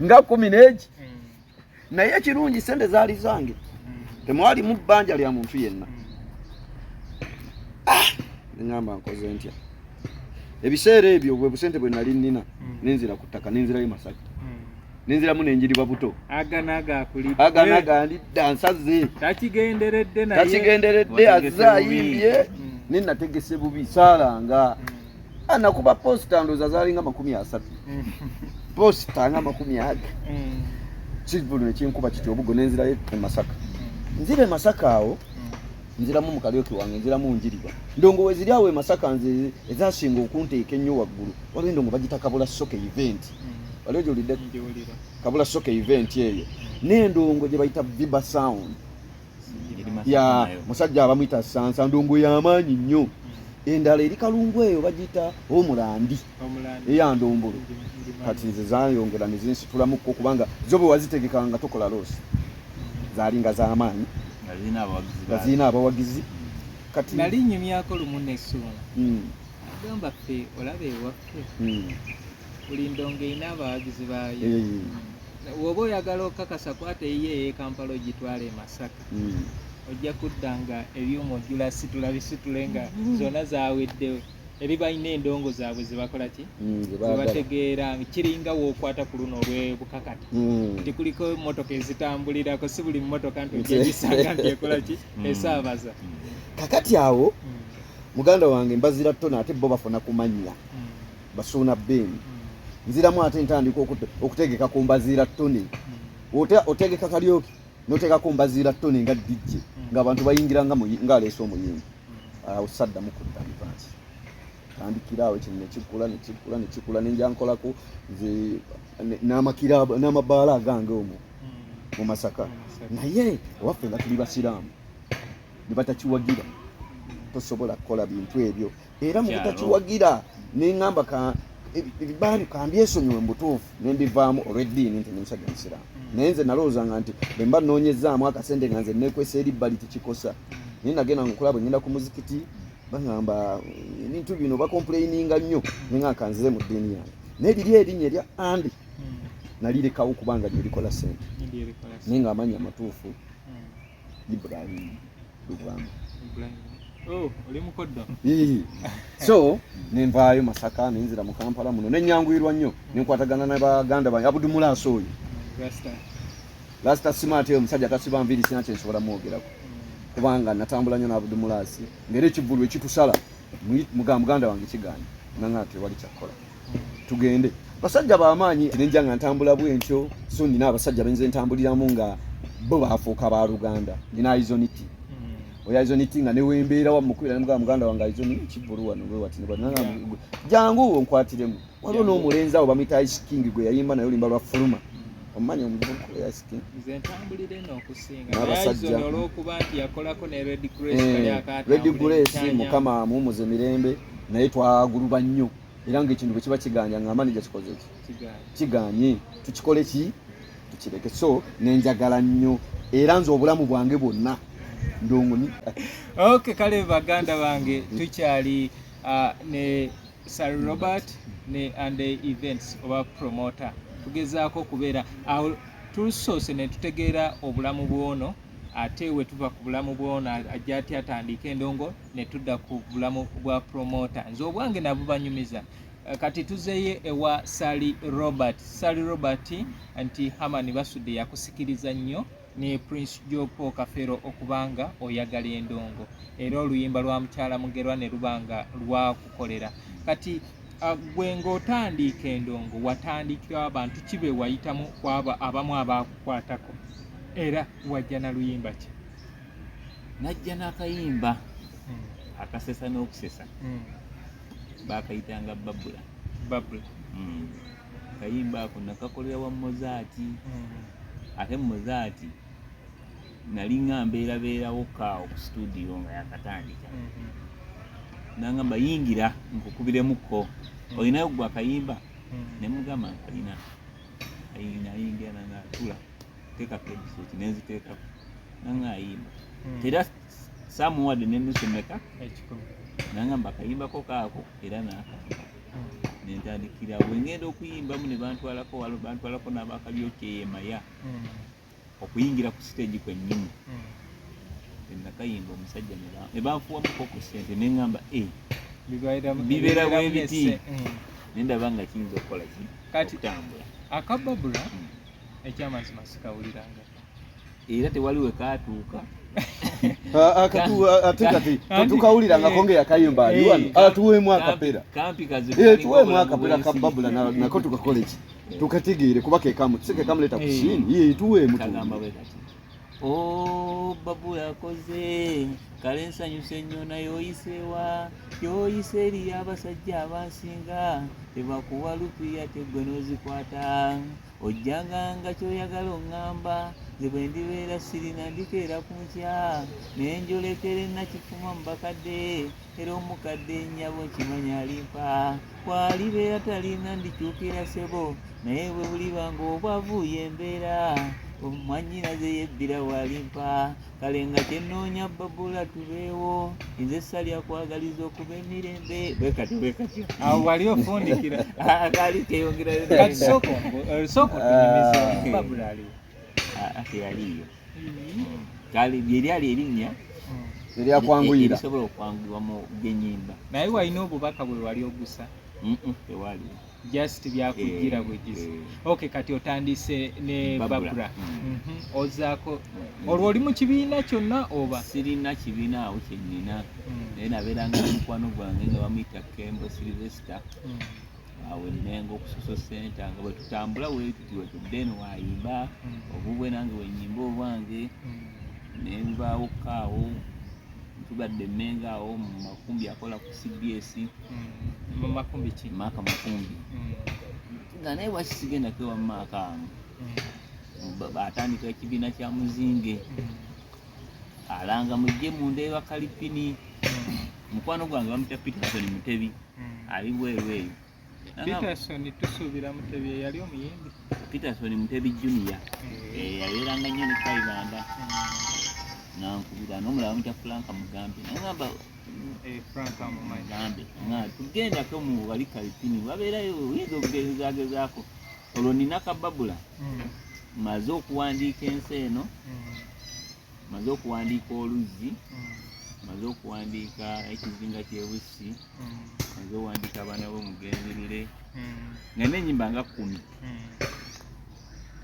A: nga kumi n'egi naye ekirungi sente zaali zange temwalimu bbanja lya muntu yenna ah! neŋamba nkoze ntya ebiseera ebyo bwe busente bwe nali nnina hmm. nenzira ku ttaka nenzirayo masaka hmm. nenziramu nenjiriba buto aganagandidda nsaze takigenderedde azze ayimbye hmm. nenategese bubi saalanga anakuba posita ndoza zalinga makumi asatu mm. posita nga makumi aga mm. kivulu nekinkuba kiti obugo nenzirayo emasaka mm. nzira emasaka awo nziramu mukalyoki wange nziramu njiriba ndongo weziri awo emasaka nze ezasinga okunteeka ennyo waggulu waliwo endongo bagita kabula soka event waliwo gyolidde kabula soka event eyo nendongo gyebayita viba sound ya musajja abamwita sansa ndongo yamaanyi nnyo endala eri kalungu eyo bagiyita omulandi eyandombolo kati nze zayongera nezinsitulamukko kubanga zo bwe wazitegeka nga tokola loosi zaali nga zamaanyi nga zirina abawagizi kati nali nyumyako lumu nesuuna hmm. agamba ffe olaba ewaffe hmm. buli ndongo erina abawagizi baayo woba oyagala okukakasa kwata eyiyo eyekampala ogitwala e masaka hmm. ojja kudda nga ebyuma ojula situla bisitule nga hmm. zona zaweddewo eri balina endongo zaabwe zebakola ki hmm, zebategeera kiringa wokwata ku luno olwebukakata nti kuliko emotoka ezitambulirako si buli motoka nti ojagisanga nti ekola ki esaabaza kakati
C: awo muganda wange mbazira tona ate bo bafuna kumanya basuuna bin nziramu ate ntandika okutegeka ku mbaziira toni otegeka kalyoki noteekako mbaziira toni nga dijje ngaabantu bayingira ngaaleese omuyimbi awo saddamu kudda mivansi tandikiraawo ekino nekikula nekikula nekikula nenjankolako nze n'amabaala agange omwo mu masaka naye owaffe nga tuli basiraamu ne batakiwagira tosobola kukola bintu ebyo era mu butakiwagira nengamba ka ebibaabi kambyesonyiwe mubutuufu nembivaamu olweddiini nti ndi musajja musiraamu mm. naye nze nalowoozanga nti bwemba noonyezaamu akasente nga nze nekwesa eri bbali tekikosa mm. naye nagenda nkulaba ngenda ku muzikiti bagamba mm, ebintu bino bakompuleininga nnyo nengakanzize mu ddiini yange naye liri erinnya erya andi nalirekawo kubanga lyerikola sente naye nga amanya amatuufu
A: Oh, so
C: nenvaayo masaka nenzira mu kampala muno nenyanguyirwa nnyo nenkwatagana na baganda bange abudumulaasi oyo lasita simaate oyo omusajja tasiba nviiri sina kyensobola mwogerako kubanga natambula nnyo n'abudumulaasi ngaera ekivulu ekitusala muga muganda wange kiganye nanga tewali kyakkola tugende basajja bamaanyi nenja nga ntambula bwentyo so nina abasajja benze ntambuliramu nga bo bafuuka ba luganda nina aizoniti hmm. oyo aizoniti nga newembeera wamukubira nemugaa muganda wange aizoni kivulu wano wewatinebwanangu jangu onkwatiremu waliwo n'omulenzi awo bamwita ice king gwe yayimba naye olimba lwa fuluma omumanyi omuvubuka oyo ice king
A: n'abasajja eh, red grace mukama
C: amuwumuze mirembe naye twaguluba nnyo era ngaekintu bwe kiba kiganya nga manaja kikozeki kiganye tukikole ki tukireke so nenjagala nnyo era nze obulamu bwange bwonna ndongoni ok
A: kale baganda bange tukyali uh, ne sir robert ne and events oba promoter tugezaako okubeera awo tusoose ne tutegeera obulamu bwono ate wetuva ku bulamu bwono ajja aty atandika endongo ne tudda ku bulamu bwa promota nze obwange nabubanyumiza eh, kati tuzeye ewa sally robert sally robert nti hamani basudde yakusikiriza nnyo ne prince jopo kafero okubanga oyagala endongo era oluyimba lwa mukyala mugerwa ne lubanga lwakukolera kati ah, gwe ng'otandiika endongo watandikira abantu kibe wayitamu kwaba abamu abaakukwatako era wajja na luyimba ki
B: najja n'akayimba hmm. akasesa n'okusesa hmm. bakayitanga babula babula hmm. kayimba ako nakakolera wa mozaati ate mozaati nali nga mbeerabeerawo kaawo ku situdiyo nga yakatandika nangamba yingira nkukubiremukko olinayo gwe akayimba nemugamba nkalina ayingira nangatula teka headset nenziteka nanga ayimba hmm. tera samuwad nenusemeka nanga mbakayimbako kaako era naka hmm. nentandikira wengenda okuyimbamu nebantwalako walo bantwalako nabakalyokeyemaya hmm. okuyingira ku siteegi kwenyini nakayimba omusajja nebanfuwamukoko sente nengamba eh, bibeera bwebiti nendaba nga kiyinza okukola ki okutambula akababula
A: ekyamazima sikawulirangako era
B: tewali we kaatuuka
C: ate kati tetukawulirangako nga yakayimba ali wano atuweemu akapera tuweemu akapera ka babula nako tukakole ki tukatigiire kuba kekamu tusekekamuleeta ku siini ye tuweemu Oh,
B: babu yakoze kale nsanyuse nnyo naye oyiseewa yoyise eri abasajja abansinga tebakuwa lupiya teggwe n'ozikwata ojjanga nga kyoyagala oŋŋamba nze bwe ndibeera sirina ndikeera ku nkya naye njolekere nakifuma mu bakadde era omukadde nnyabo nkimanya alimpa kwalibeera talinga ndikyukira sebo naye bwe buliba ng'obwavu yembeera omwanyinaze yebbira walimpa kale nga kyenoonya babula tubeewo nze salya kwagaliza okuba emirembe bwekati bwekati awo wali
A: ofundikira akaali
B: keyongerayo eh,
A: soko tunyumiza babula aliwo ah, ah, yaliyo
B: kale lyeryali erinnya eryakwanguyira
C: erisobola okwanguyirwa
B: mu genyimba naye walina obubaka
A: bwe wali ogusa tewali
B: just
A: byakujjira eh, bwegizi eh. ok kati otandise ne babura mm. mhm. ozaako mm. olwo oli mu kibiina kyonna oba sirina kibiina
B: awo kyenina mm. naye nabeeranga mukwano gwange nga bamuyita kembo silvester awo emengo okusoso senta nga bwetutambula wetuti wetudde eno wayimba mm. obubwe nange wenyimba obwange mm. nenvaawo kaawo tugadde emengo awo mumakumbi akola ku cbs
A: mumakumbi ki maaka makumbi
B: nga naye waki sigenda kewa maaka amu atandika ekibiina kya muzinge alanga mujje munda ewa kalipini mukwano gwange bamutya peterson mutebi mm. hmm. ali bweru eyo Peterson
A: tusuubira Mutebi eyali omuyimbi Peterson Mutebi
B: Junior eh. Eh, yabeeranga nnyo ne Kaibanda hmm. nankubira n'omulala mutya Frank Mugambe nangamba eh,
A: Mugambe
B: nga tugendako mu wali Kalipini wabeerayo oyinza okugezezagezaako olwo nina kababula hmm. maze okuwandiika ensi eno maze okuwandiika oluzzi maze okuwandiika ekizinga kyebussi maze owandiika abaana bo mugenzerere nga nenyimba nga kumi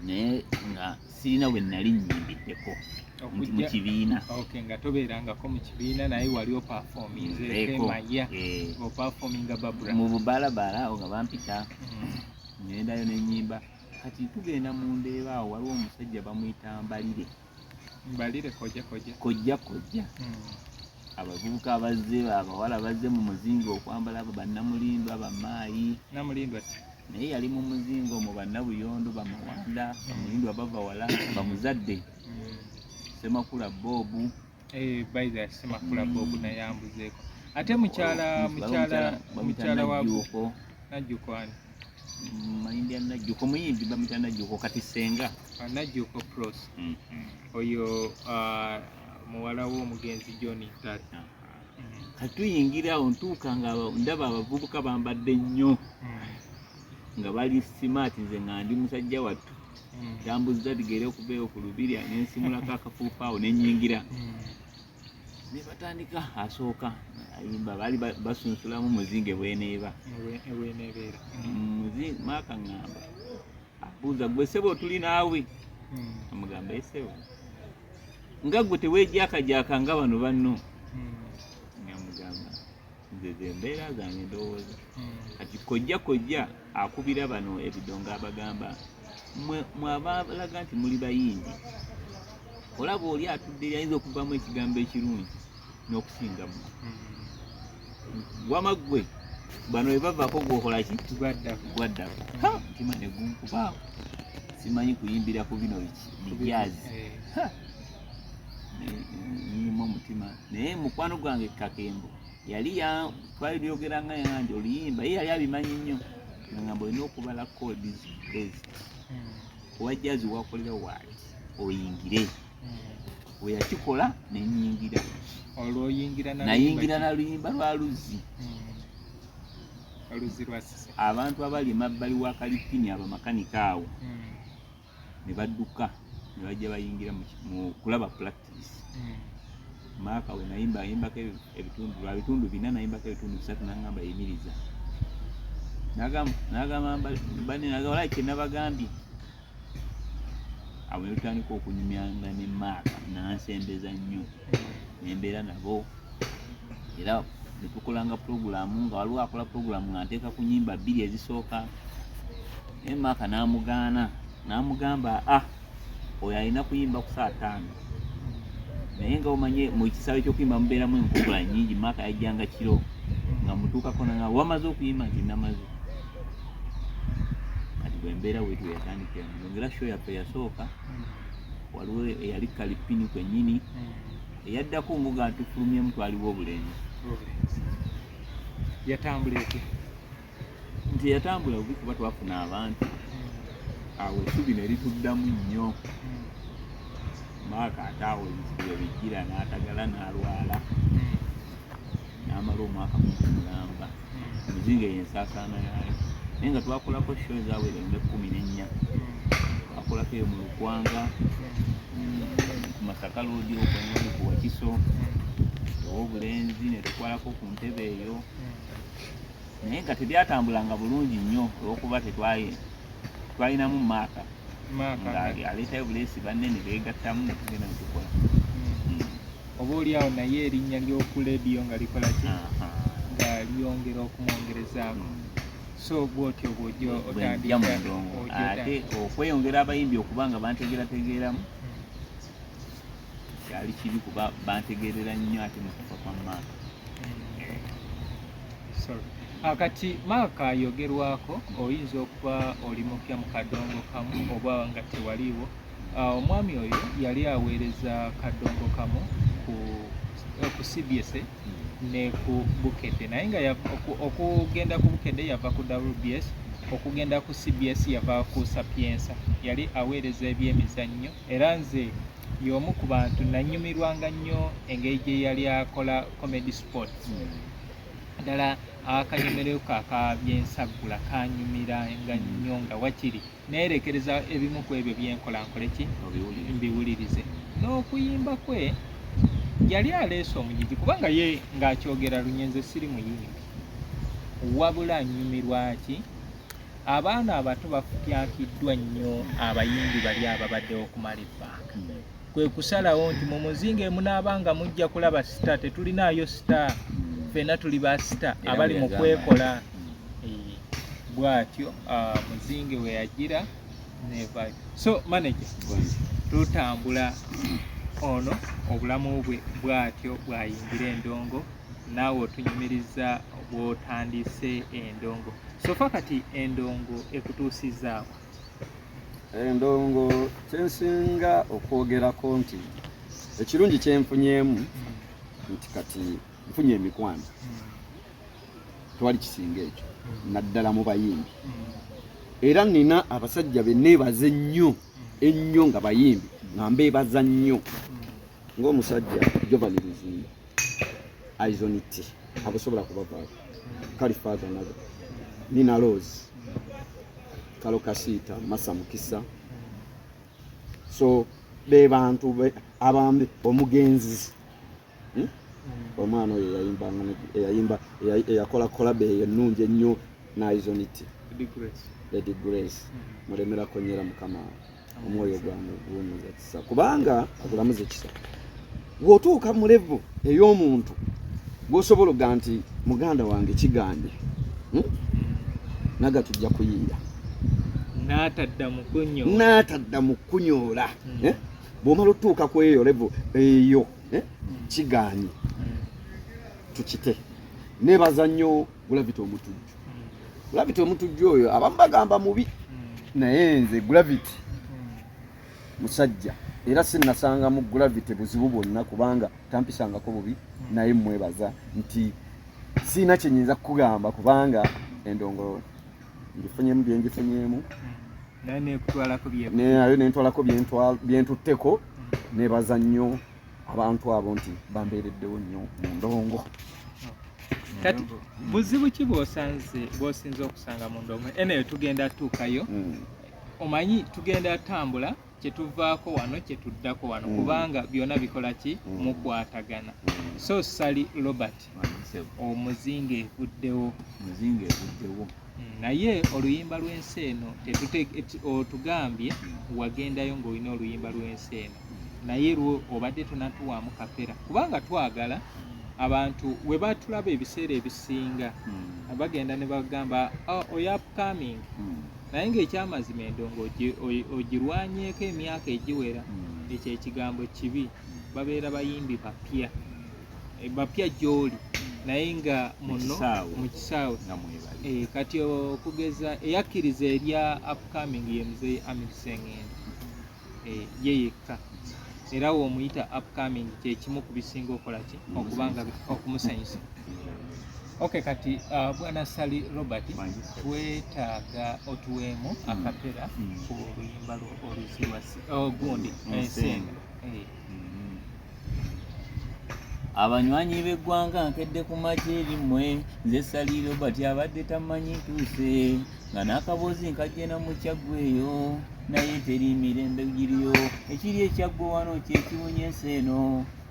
B: naye nga sirina we nali nyimbiddeko nti mu kibiina nga tobeerangako
A: mu kibiina naye wali opafominzemaya eh. opafominga babra mu bubalabala
B: nga bampita ngendayo nenyimba kati tugenda mu ndeeba awo waliwo omusajja bamuyita mbalire
A: mbalire kojja kojja kojja kojja hmm.
B: abavubuka abazze abawala bazze mu muzingo okwambala abo bannamulindwa bamaayi namulindwa
A: naye yali mu
B: muzingo mu bannabuyondo bamawanda bamulindwa bava wala bamuzadde hmm. semakula bobu mm. Eh, baiza
A: yasema kula bobu na yambuzeko ate mukyala mukyala mukyala wa guko na juko ani mm, mayindi
B: ya najuko muyimbi bamita najuko kati senga ah, najuko pros
A: mm -hmm. oyo uh, muwala wo mugenzi John Tat ah.
B: kati tuyingira awo ntuuka nga ndaba abavubuka bambadde nnyo mm. nga bali smart nze nga ndi musajja wattu yambuzza mm. bigere okubeewo ku lubirya nensimulako akafuufa awo nenyingira mm. nebatandika asooka ayimba baali basunsulamu muzinge bweneeba maaka ngamba abuuza gwe sebo tuli naawe amugamba esebo nga gwe tewejjakajaka nga bano banno zezo embeera zange ndowooza hmm. kati kojja kojja akubira bano ebidongo abagamba mwabalaga nti muli bayindi olaba oli atudde yayinza okuvamu ekigambo ekirungi n'okusinga mu hmm. wama ggwe bano bebavako gwokolaki gwaddako mutima negunkubaawo simanyi kuyimbira ku bino biki bijaazi eh. nyuma omutima naye mukwano gwange kakembo yali twali lyogera nga yange oluyimba ye yali abimanyi nnyo nangamba olina okubala codes bezi owa jazi wakolera waali oyingire weyakikola nenyingira nayingira naluyimba lwa luzzi abantu abali emabbali wa kalipini abamakanika awo hmm. ne badduka ne bajja bayingira mu kulaba practice hmm. maaka we nayimba ayimbako ebitundu lwa bitundu bina nayimbako ebitundu bisatu nangamba yimiriza nagamba bane nagamba olai kyenabagambye awo netutandika okunyumyanga ne maaka nansembeza nnyo nembeera nabo era netukolanga pulogulaamu nga waliwo akola pulogulaamu nga nteeka ku nyimba bbiri ezisooka naye maaka n'amugaana n'amugamba a ah, oyo alina kuyimba ku saa taano naye nga omanye mu kisaawe ky'okuyimba mubeeramu enkugula nyingi maaka yajjanga kiro nga mutuukako nanga wamaze okuyimba nti namaze kati bwe mbeera wetu yatandikira nongera sho yaffe yasooka waliwo eyali kalipini kwennyini eyaddako nguga atufulumyemu twaliwo obulenzi
A: yatambula etya
B: nti yatambula bubi kuba twafuna abantu hmm. awo esubi ne lituddamu nnyo hmm. maaka ate awo ebizibu ebijjira n'atagala n'alwala hmm. n'amala omwaka gumu mulamba muzinga eyo ensaasaana yaayo naye nga twakolako sho ezawera nga ekkumi n'ennya twakolako eyo mu lukwanga ku masaka loodi okwengoni ku wakiso owobulenzi ne tukwalako ku ntebe eyo naye nga tebyatambulanga bulungi nnyo olwokuba tetwaye twalinamu maaka ng'aleetayo buleesi banne ne beegattamu ne tugenda ne tukola
A: oba olyawo naye erinnya ly'oku leediyo nga likola ki nga lyongera okumwongerezaako hmm. so bwotyo bwojja otandikaate
B: okweyongera abayimbi okuba nga bantegerategeeramu kyali hmm. kibi kuba bantegerera nnyo ate mukufa kwa maaka
A: hmm. ah, kati maaka ayogerwako oyinza okuba oli mupya mu kadongo kamu oba nga tewaliiwo Ah, omwami oyo yali aweereza kadongo kamu ku eh, ku cbsa hmm. ne ku bukedde naye nga okugenda ku bukedde yava ku wbs okugenda ku cbs yava ku sapiensa yali aweereza ebyemizannyo era nze y'omu ku bantu nanyumirwanga nnyo engeri gye yali akola comedy sport hmm. ddala akanyumireko aka byensaggula kanyumira nga nnyo nga wakiri hmm. neerekereza ebimu ku ebyo byenkola nkole ki mbiwulirize n'okuyimba kwe yali aleese omujiji kubanga ye ng'akyogera lunyenze siri muyimbi wabula nyumirwa ki abaana abato bafukyakiddwa nnyo abayimbi bali ababaddewo okumala ebbanga kwe kusalawo nti mu muzinga emunaaba nga mujja kulaba sita tetulinaayo sita ffena tuli ba sita abali mu kwekola bwatyo ah, muzinge we yagira nevayo so manager tutambula ono obulamu bwe bwatyo bwayingira endongo naawe otunyumiriza bwotandise endongo sofa kati endongo ekutuusizaawo endongo
C: eh, kyensinga okwogerako nti ekirungi kyenfunyemu nti kati nfunye emikwano twali kisinga ekyo naddala mu bayimbi era nina abasajja beneebaze ennyo ennyo nga bayimbi nga mbeebaza nnyo ng'omusajja jovani luzimba eyes on it abusobola kubavaako kali faaza nago nina loozi kalo kasiita masa mukisa so be bantu abambi omugenzi hmm? omwana oyo eyayimbanga eyayimba eyakola kolabe eyo ennungi ennyo naizoniti lady grace hmm. mulemerako nyera mukama omwoyo gwange guwummuza kisa kubanga agulamuza ekisa bw'otuuka mu levu ey'omuntu gwosobola okuga nti muganda wange kigambye hmm? naga tujja kuyiira n'atadda mu kunyoola hmm. eh? bw'omala otutuuka ku eyo levu eyo eh? hmm. kiganye tukite nebaza nnyo Gravity omutujju. Gravity omutujju oyo abamu bagamba mubi naye nze Gravity musajja era sinasangamu Gravity buzibu bwonna kubanga tampisangako bubi naye mwebaza nti siina kyenyinza kukugamba kubanga endongo ngifunyemu byengifunyemu nayo nentwalako byentutteko nebaza nnyo abantu abo nti bambeereddewo nnyo mu ndongo
A: kati buzibu ki bwosanze bwosinza okusanga mu ndongo eneyo tugenda tuukayo hmm. omanyi tugenda tambula kyetuvaako wano kyetuddako wano hmm. kubanga byona bikola ki hmm. mukwatagana so sali robert omuzinga evuddewo omuzinga evuddewo naye oluyimba lw'ensi eno otugambye wagendayo ng'olina oluyimba lw'ensi eno naye lwo obadde tonatuwaamu kapera kubanga twagala abantu we batulaba ebiseera ebisinga hmm. bagenda ne bagamba oh, oyo upcoming hmm. naye ng'ekyamazima endongo ogirwanyeeko emyaka egiwera hmm. ekyo ekigambo kibi babeera bayimbi bapya eh, bapya gyoli naye nga muno mu kisaawe eh, kati okugeza eyakkiriza erya upcoming ye muzeeyi amir sengendo eh, ye yekka era womuyita upcoming kyekimu ku bisinga okola ki okubanga okumusanyusa ok kati uh, bwana sali robert twetaaga otuweemu mm. akapera mm. ku luyimba oluzirwa ogundi oh, ensenga
B: abanywanyi b'eggwanga nkedde ku magye erimwe nze sali robert abadde tamanyi ntuuse nga n'akaboozi nkajje na mukyaggwa eyo naye teri mirembe giriyo ekiri ekyaggwa wano kyekiwunya ensi eno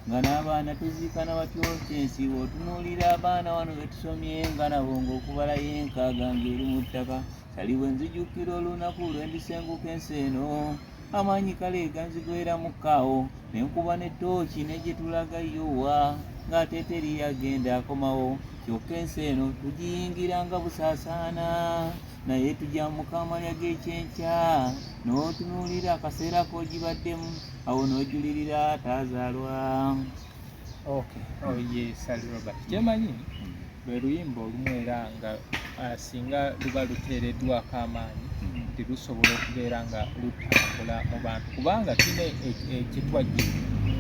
B: nga n'abaana tuziikana batyo kyensi otunuulira abaana wano betusomye nga nabo ng'okubala yenkaaga ng'eri mu ttaka sali bwe nzijukira olunaku lwe ndisenguka ensi eno Amaanyi kale ganzigweeramuko awo ne nkuba ne tooki ne gye tulaga Yowa ng'ate teri agenda akomawo kyokka ensi eno tugiyingira nga busaasaana naye tugyamuka amalya g'ekyenkya n'otunuulira akaseera k'ogibaddemu awo n'ojulirira ataazaalwa
A: Okay. Oh, ye Sally Robert kyemanyi hmm. lwe luyimba olumu era nga ah, singa luba luteereddwako amaanyi hmm. nti lusobola okubeera nga lutambula mu bantu kubanga tulina e, e, ekitwajje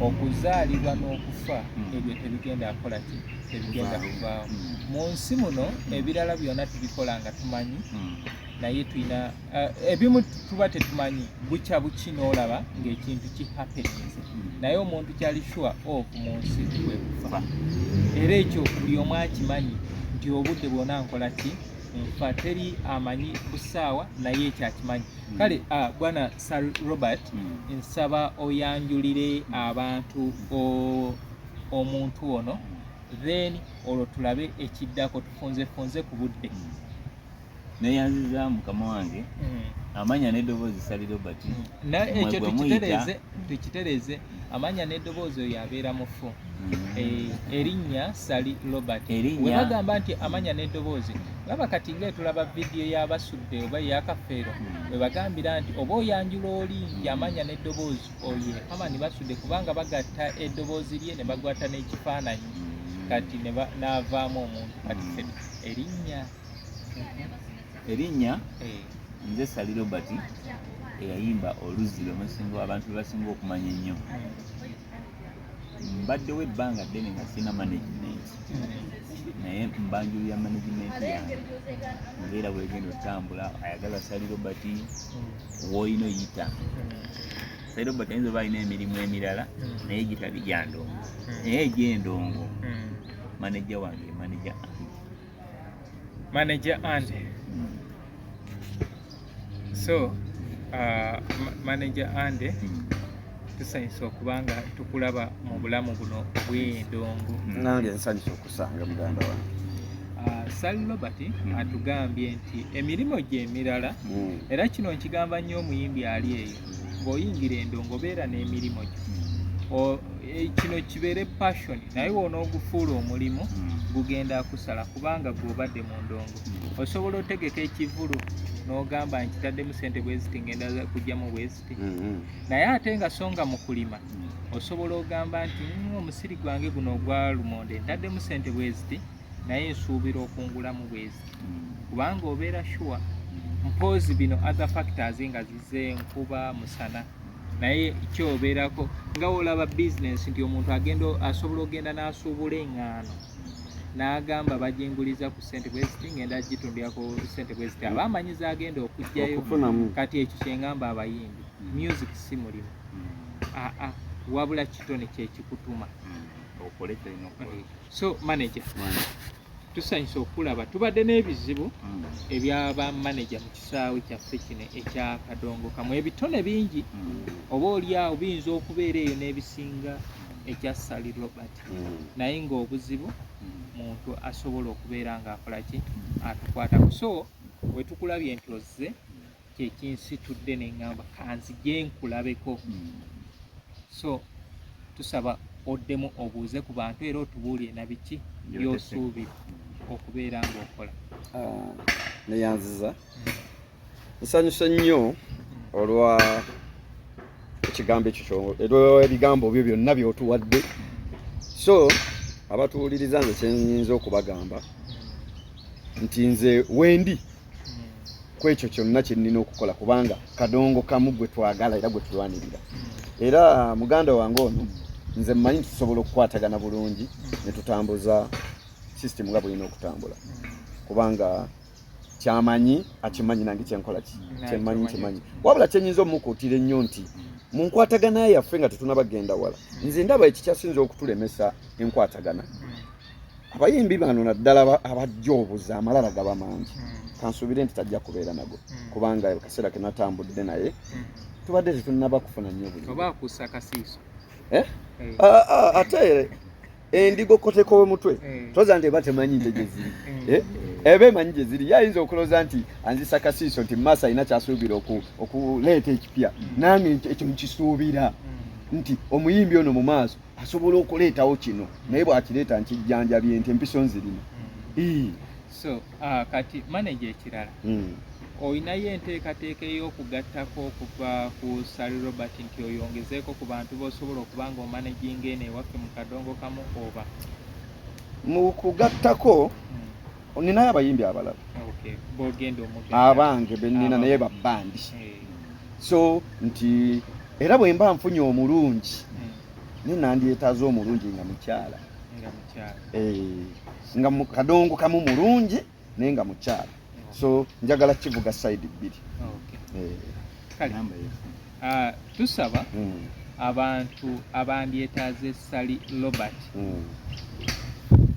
A: okuzaalibwa n'okufa hmm. ebyo tebigenda kukola ki tebigenda kuvaawo mu nsi muno ebirala byonna tubikola nga tumanyi naye tulina Eh, ebimu tuba tetumanyi bukya buki n'olaba ng'ekintu ki happeninze naye omuntu kyali shuwa of mu nsi kwe kufa era ekyo buli omu akimanyi nti obudde bwona nkola ki nfa teri amanyi busaawa naye ekyo akimanyi hmm. kale ah, bwana sir robert hmm. nsaba oyanjulire abantu omuntu ono then olwo tulabe ekiddako tufunzefunze ku budde hmm.
B: neyanziza mukama wange mm. amanya n'eddoboozi sali
A: robert
B: mm. ekyo tukitereeze tukitereeze
A: amanya n'eddoboozi oyo abeera mufu mm. eh, erinnya sali robert webagamba nti
B: amanya
A: n'eddoboozi laba kati nga etulaba vidiyo yabasudde oba eyakafeero webagambira nti oba oyanjula oli nti amanya n'eddoboozi oyo amani basudde kubanga bagatta eddoboozi lye ne bagwata n'ekifaananyi kati navaamu omuntu kati erinnya
B: erinnya eh. nze sali robert eyayimba oluzzi lwemusinga abantu lwebasinga okumanya ennyo mbaddewo ebbanga ddene nga sirina management naye mbanjulu ya management yange ngaera bwegenda otambula ayagala sali robert woyina oyita sali robert ayinza oba alina emirimu emirala naye gitabi gyandongo naye egyendongo hmm. manaja wange manaja
A: manager Andy mm. so uh, manager Andy mm. tusanyusa okuba nga tukulaba mu bulamu buno bw'endongo nange nsanyusa
C: okusanga muganda wange uh, sal robert
A: mm. atugambye nti emirimu gye emirala mm. era kino nkigamba nnyo omuyimbi ali eyo ng'oyingira endongo beera n'emirimu gyo hmm. e, kino kibeere passion naye wonoogufuula omulimu hmm. gugenda akusala kubanga gwobadde mu ndongo hmm. osobola otegeka ekivulu n'ogamba nkitaddemu sente bweziti ngenda kujjamu bweziti naye ate nga songa mu kulima osobola ogamba nti omusiri gwange guno ogwalumonde ntaddemu sente bweziti naye nsuubira okungulamu bwezi kubanga obeera shuwa mpoozi bino other factors nga zize nkuba musana naye kyobeerako nga olaba business nti omuntu agenda asobola okugenda n'asuubula eŋŋaano n'agamba baginguliza ku sente bweziti ngenda gitundira ku sente bweziti aba amanyi zagenda okugjayo kati ekyo kyengamba abayimbi mm. music si mulimu aa mm. ah, ah, wabula kitone kyekikutuma mm. so manager tusanyusa okulaba tubadde n'ebizibu mm. ebyaba manager mu kisaawe kyaffe kino ekya kadongo kamu ebitone bingi mm. oba olyawo biyinza okubeera eyo n'ebisinga ekya sali robert mm. naye ng'obuzibu muntu asobola okubeera ng'akolaki atukwatako so wetukulabye nti ozze kyekinsitudde nengamba kanzije nkulabeko hmm. so tusaba oddemu obuuze ku bantu era otubuulire na biki byosuubira hmm. okubeera ngaokola ah,
C: neyanziza hmm. nsanyuse nnyo olwa ekigambo ekyo kyo ebigambo byo byonna byotuwadde so abatuwuliriza nze kyenyinza okubagamba nti nze wendi ku ekyo kyonna kye nnina okukola kubanga kadongo kamu gwe twagala era gwe tulwanirira era muganda wange ono nze mmanyi tusobola okukwatagana bulungi ne tutambuza sisitemu nga bulina okutambula kubanga kyamanyi akimanyi nange kyenkola ki kyemanyi nkimanyi wabula kyenyinza omukuutira ennyo nti mu nkwatagana yaffe nga tetunabagenda wala nze ndaba ekikyasinza okutulemesa enkwatagana abayimbi bano naddala abajja obuza amalala gaba mangi hmm. kansuubire nti tajja kubeera nago hmm. kubanga akaseera ke natambudde naye hmm. tubadde tetunaba kufuna nnyo buli oba akussa kasiiso
A: eh? eh. ah, ah,
C: ate endigo koteko wemutwe eh. toza nti eba temanyi nte gyeziri eh. eh? eba emanyi gyeziri ye ayinza okuloza nti anzisa kasiiso nti mumaaso alina kyasuubira okuleeta ekipya mm. nange ekyo nkisuubira mm. nti omuyimbi ono mu maaso asobola okuleetawo kino naye bwakireeta nkijjanjabye nti empiso nzirina mm.
A: so uh, kati maneja ekirala mm. olinayo enteekateeka ey'okugattako okuva ku sal robert nti oyongezeeko ku bantu b'osobola okuba nga omanaginga eno ewaffe mu kadongo kamu oba
C: mu kugattako mm. ninayo abayimbi abalala
A: abange
C: benina naye babbandi eh. so nti era bwe mba nfunye omulungi hmm. naye nandyetaaza omulungi nga mukyala nga eh, kadongo kamu mulungi naye nga mukyala so njagala kivuga side bbiri eh.
A: uh, tusaba mm. abantu abandyetaaze sali robert mm.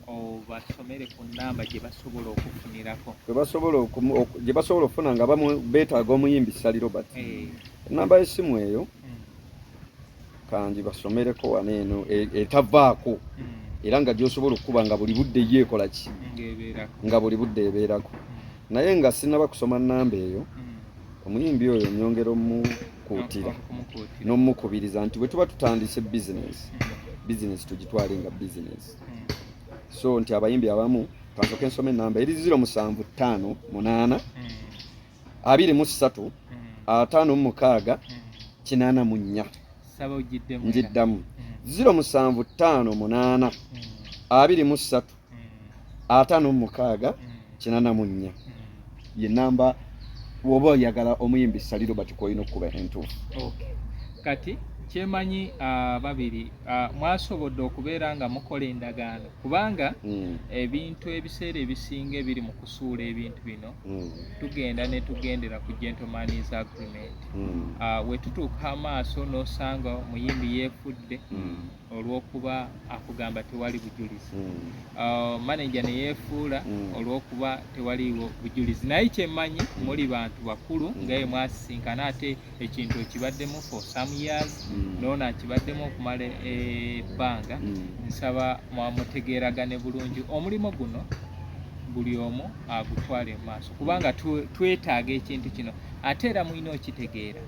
A: obasomere ku namba gyebasobola okufunirako gyebasobola okufuna nga bamu betaaga omuyimbi sali robert hey. Eh. enamba yesimu eyo mm. kangi basomereko wano eno e, etavaako mm. era nga gyosobola okukuba nga buli budde yo ekola ki nga buli budde ebeerako naye nga sinaba kusoma namba eyo mm. omuyimbi
C: oyo nyongera omukuutira n'omukubiriza nti bwe tuba tutandise bizinesi hmm. bizinesi tugitwale nga bizinesi hmm. so nti abayimbi abamu kansoke nsoma enamba eri ziro musanvu ttaano munaana hmm. abiri mu ssatu ataano mu mukaaga kinaana mu nnya ngiddamu ziro musanvu ttaano munaana abiri mu ssatu ataano mu mukaaga kinana mu nnya ye namba woba oyagala omuyimbi sali robert kwoyina okukuba entuufu kati
A: kyemanyi ababiri ah, ah, mwasobodde okubeera nga mukola endagaano kubanga hmm. ebintu ebiseera ebisinga ebiri mu kusuula ebintu bino hmm. tugenda ne tugendera ku gentlemans agreement hmm. ah, wetutuuka amaaso n'osanga omuyimbi yeefudde olwokuba akugamba tewali bujulizi mm. uh, manaja neyefuula mm. olwokuba tewaliwo bujulizi naye kyemanyi mm. muli bantu bakulu mm. ngaye mwasisinkana ate ekintu ekibaddemu for some years mm. noona akibaddemu okumala ebbanga mm. nsaba mwamutegeeragane bulungi omulimu guno buli omu agutwale mu maaso kubanga twetaaga ekintu kino ate era mulina okitegeera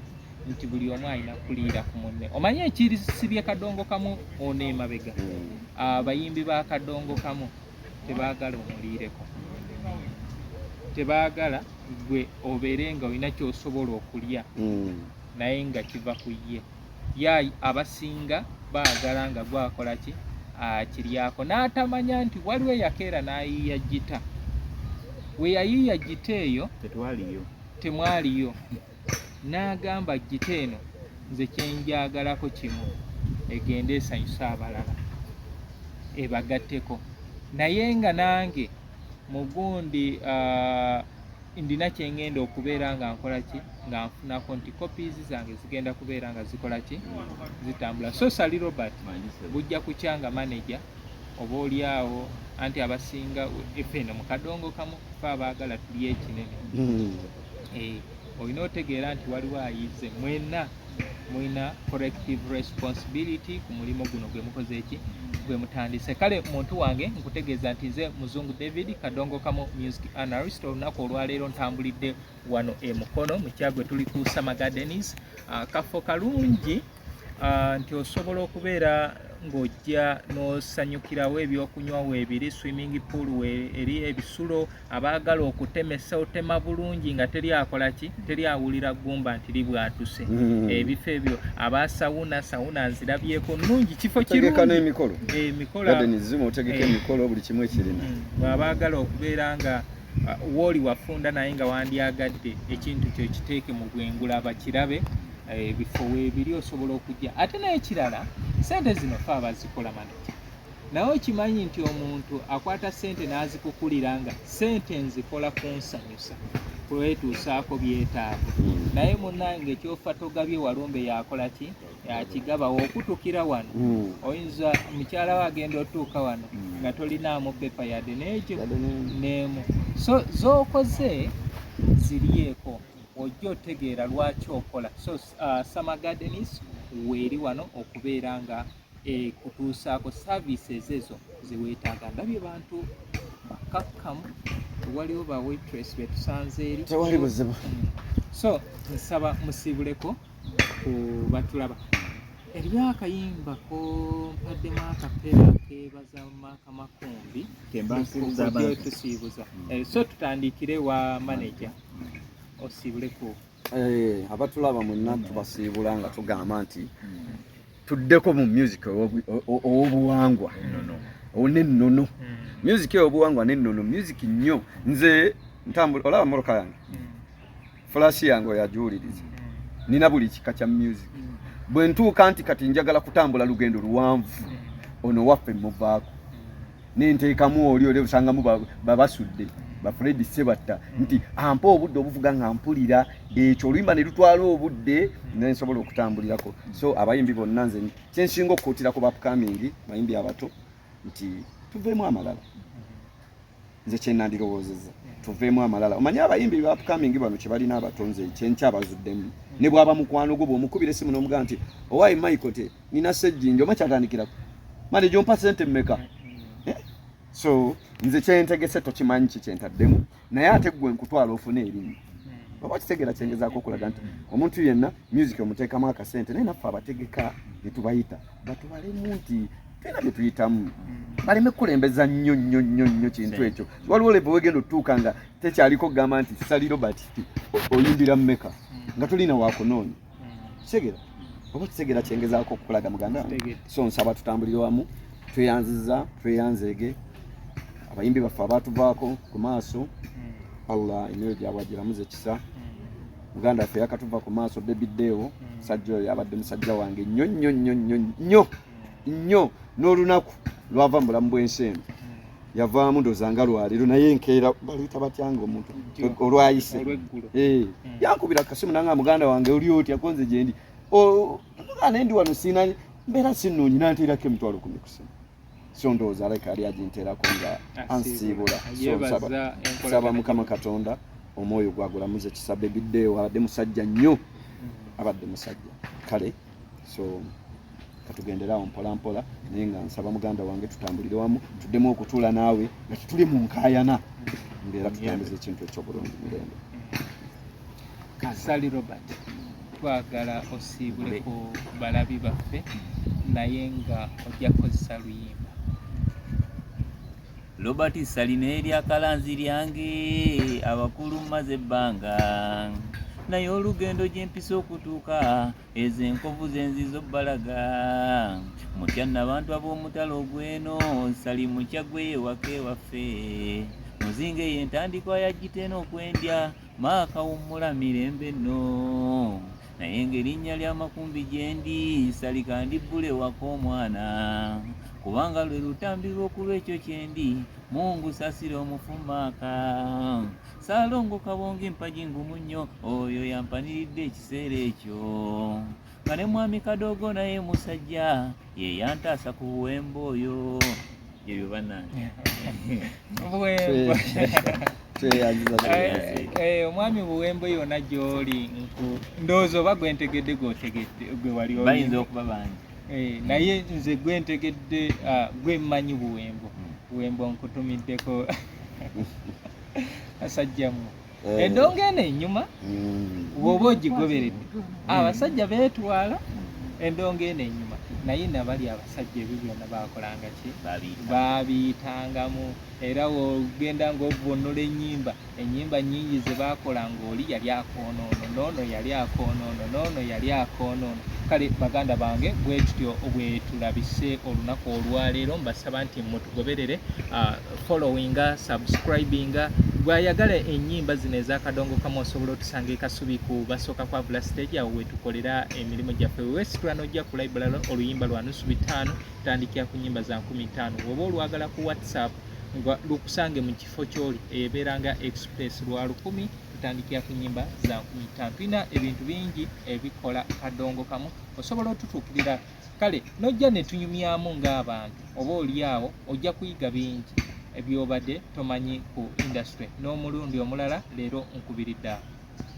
A: nti buli omu alina kuliira ku munne omanyi ekisibye kadongo kamu ono emabega abayimbi ba kadongo kamu tebaagala omuliireko tebaagala gwe obeere nga olina kyosobola okulya hmm. naye nga kiva ku ye ya abasinga baagala nga gwakola ki akiryako n'atamanya nti waliwo eyakeera n'ayiiya gita we yayiiya gita eyo temwaliyo n'agamba gita eno nze kyenjagalako kimu egende esanyuse abalala ebagatteko naye nga nange mugundi uh, ndina kyengenda okubeera nga nkola ki nga nfunako nti copies zange zigenda kubeera nga zikola ki zitambula so sali robert bujja kukya nga manager oba oli awo anti abasinga efeeno mukadongo kamu fe abaagala tuli ekinene hmm. Eh, olina otegeera nti waliwo ayize mwena mulina corrective responsibility ku mulimu guno gwe mukoze eki gwe mutandise kale muntu wange nkutegeeza nti nze muzungu david kadongo kamu music analyst olunaku olwaleero ntambulidde wano e mukono mu kyaggwe tuli ku summer gardens ah, kafo kalungi uh, nti osobola okubeera ng'ojja n'osanyukirawo ebyokunywa weebiri swimming pool eri ebisulo abaagala okutemesa otema bulungi nga teri akola ki teri awulira ggumba nti libwatuse mm. ebifo ebyo aba sawuna sawuna nzirabyeko nungi kifo kirungiemikolo
C: eh, eh, buli kimu ekirina mm. bw'abaagala
A: okubeera nga wooli wafunda naye nga wandyagadde ekintu kyo kiteeke mu bwengula abakirabe eh, ebifo weebiri osobola okujja ate n'ekirala sente zino fe abazikola maniki naye okimanyi nti omuntu akwata sente n'azikukulira nga sente nzikola kunsanyusa kwetuusaako byetaago hmm. naye munange ekyofa togabye walumbe yakola ki yakigabawo okutukira wano hmm. oyinza mukyala we agenda otuuka wano hmm. nga tolinaamu pepa yadde n'ekyo neemu so z'okoze ziryeeko ojja otegeera lwaki okola so uh, summer gardens weeri wano okubeera nga ekutuusaako eh, services ezo zeweetaaga ndabye bantu bakakkamu waliwo ba waitress betusanze eri tewali buzibu hmm.
C: so
A: nsaba musiibuleko ku batulaba eriyo akayimba kompaddemu akapeera kebaza maaka makumbi tusiibuza mm. eh, so tutandikire wa maneja mm. osiibuleko eh,
C: abatulaba mwenna tubasiibula nga tugamba nti mm. tuddeko mu music owobuwangwa onennono music eyobuwangwa nennono music nnyo nze ntambula olaba moroka yange fulaasi yange oyagiwuliriza nina buli kika kya music bwe ntuuka nti kati njagala kutambula lugendo luwanvu ono waffe muvaako nenteekamu oli oli osangamu babasudde bafredi sebatta nti ampa obudde obuvuga nga mpulira ekyo oluyimba ne lutwala obudde nensobola okutambulirako so abayimbi bonna nze kyensinga okukuutira ku bapkamingi bayimbi abato nti tuveemu amalala nze kyenandirowoozeza tuveemu amalala omanyi abayimbi bapkamingi bano kyebalina abatonze kyenkyabazuddemu ne bwaba mukwano gwo bwomukubira esimu nomuga nti owaye michael te nina sejjinja oma kyatandikirako mane gyompa sente mmeka eh? so nze kyentegese tokimanyi ki kyentaddemu naye ate gwe nkutwala ofuna erimu oba kitegera kyengezaako okulaga nti omuntu yenna music omuteekamu akasente naye naffe abategeka netubayita batubalemu nti tena byetuyitamu mm. baleme kukulembeza nnyo nnyo nnyo nnyo kintu ekyo waliwo lebe wegenda otutuuka nga tekyaliko kugamba nti sali robert oyimbira mumeka mm. nga tolina wakunoonya mm. kitegera oba kitegera kyengezaako okukulaga muganda so nsaba tutambulire wamu tweyanziza tweyanzeege abayimbi baffe abatuvaako ku maaso allah emyoyo gyabwe agiramuza ekisa muganda waffe yakatuva ku maaso bebideewo musajja oyo abadde musajja wange nnyo nnyo nnyo nnyo nnyo nnyo n'olunaku lwava mu bulamu bw'ensi eno yavaamu ndoza nga lwaliro naye enkeera baluyita batyanga omuntu olwayise eh, hmm. yankubira kasimu nanga muganda wange oli otya konze gyendi muganda endi wano siina mbeera sinnungi nanteerako emitwalo kumi kusimu so ndowooza aleka ali aginteerako nga ansiibula saba mukama katonda omwoyo gwagulamuze kisabe biddeewo abadde musajja nnyo hmm. abadde musajja kale so katugenderawo mpolampola naye nga nsaba muganda wange tutambulire wamu tuddemu okutuula naawe nga tutuli mu nkayana ngaera tutambuza ekintu ekyobulungi mirembe kasali
A: robert twagala osiibule ku balabi baffe naye nga ojja kukozesa luyimba
B: Robert Salina erya kalanzi lyange abakulu maze ebbanga naye olugendo gyempisa okutuuka ezo enkovu zenziza obbalaga mutya nabantu ab'omutalo ogweno sali mukya gweyewaka ewaffe muzinga eyo entandikwa yagitena okwendya Maaka wummula mirembe nno naye ng'erinnya lya Makumbi gyendi salika ndibbule waka omwana kubanga lwe lutambi lw'okulwa ekyo kyendi mungu sasira omufu maaka saalongo kabonga empagi ngumu nnyo oyo yampaniridde ekiseera ekyo nga ne mwami kadogo naye musajja ye yantaasa ku buwemba oyo ebyo banange
A: eh, eh, omwami buwembo yona gyoli ndowooza oba gwentegedde gwotegedde gwe wali bayinza okuba bangi
B: eh, naye
A: nze gwentegedde ah, gwemmanyi buwembo hmm. buwembo nkutumiddeko asajjamu eh. endongo eno enyuma hmm. woba ogigoberedde abasajja betwala endongo eno enyuma naye nabali abasajja ebyo byona bakolanga ki babiyitangamu era ogenda ngaovunula enyimba enyimba nyingi zebakola ngaoli yali akonoono noono yali akonoono noono yali akonoono kale baganda bange bwetutyo bwetulabise olunaku olwaleero mbasaba nti mutugoberere ah, followinga subscribinga gwayagala enyimba zino ezakadongo kamu osobola otusanga ekasubi ku basooka kwavula stage awo wetukolera emirimu gyaffe wewesitula nojja ku library oluyimba lwa nusu bitaano tandikira ku nyimba za nkumi ttaano woba olwagala ku whatsapp nga lukusange mu kifo kyoli ebeeranga express lwa lukumi tutandikira ku nyimba za nkumi ttaano tulina ebintu bingi ebikola kadongo kamu osobola otutuukirira kale nojja netunyumyamu ng'abantu oba olyawo ojja kuyiga bingi ebyobadde tomanyi ku industry n'omulundi omulala leero nkubiridde awo.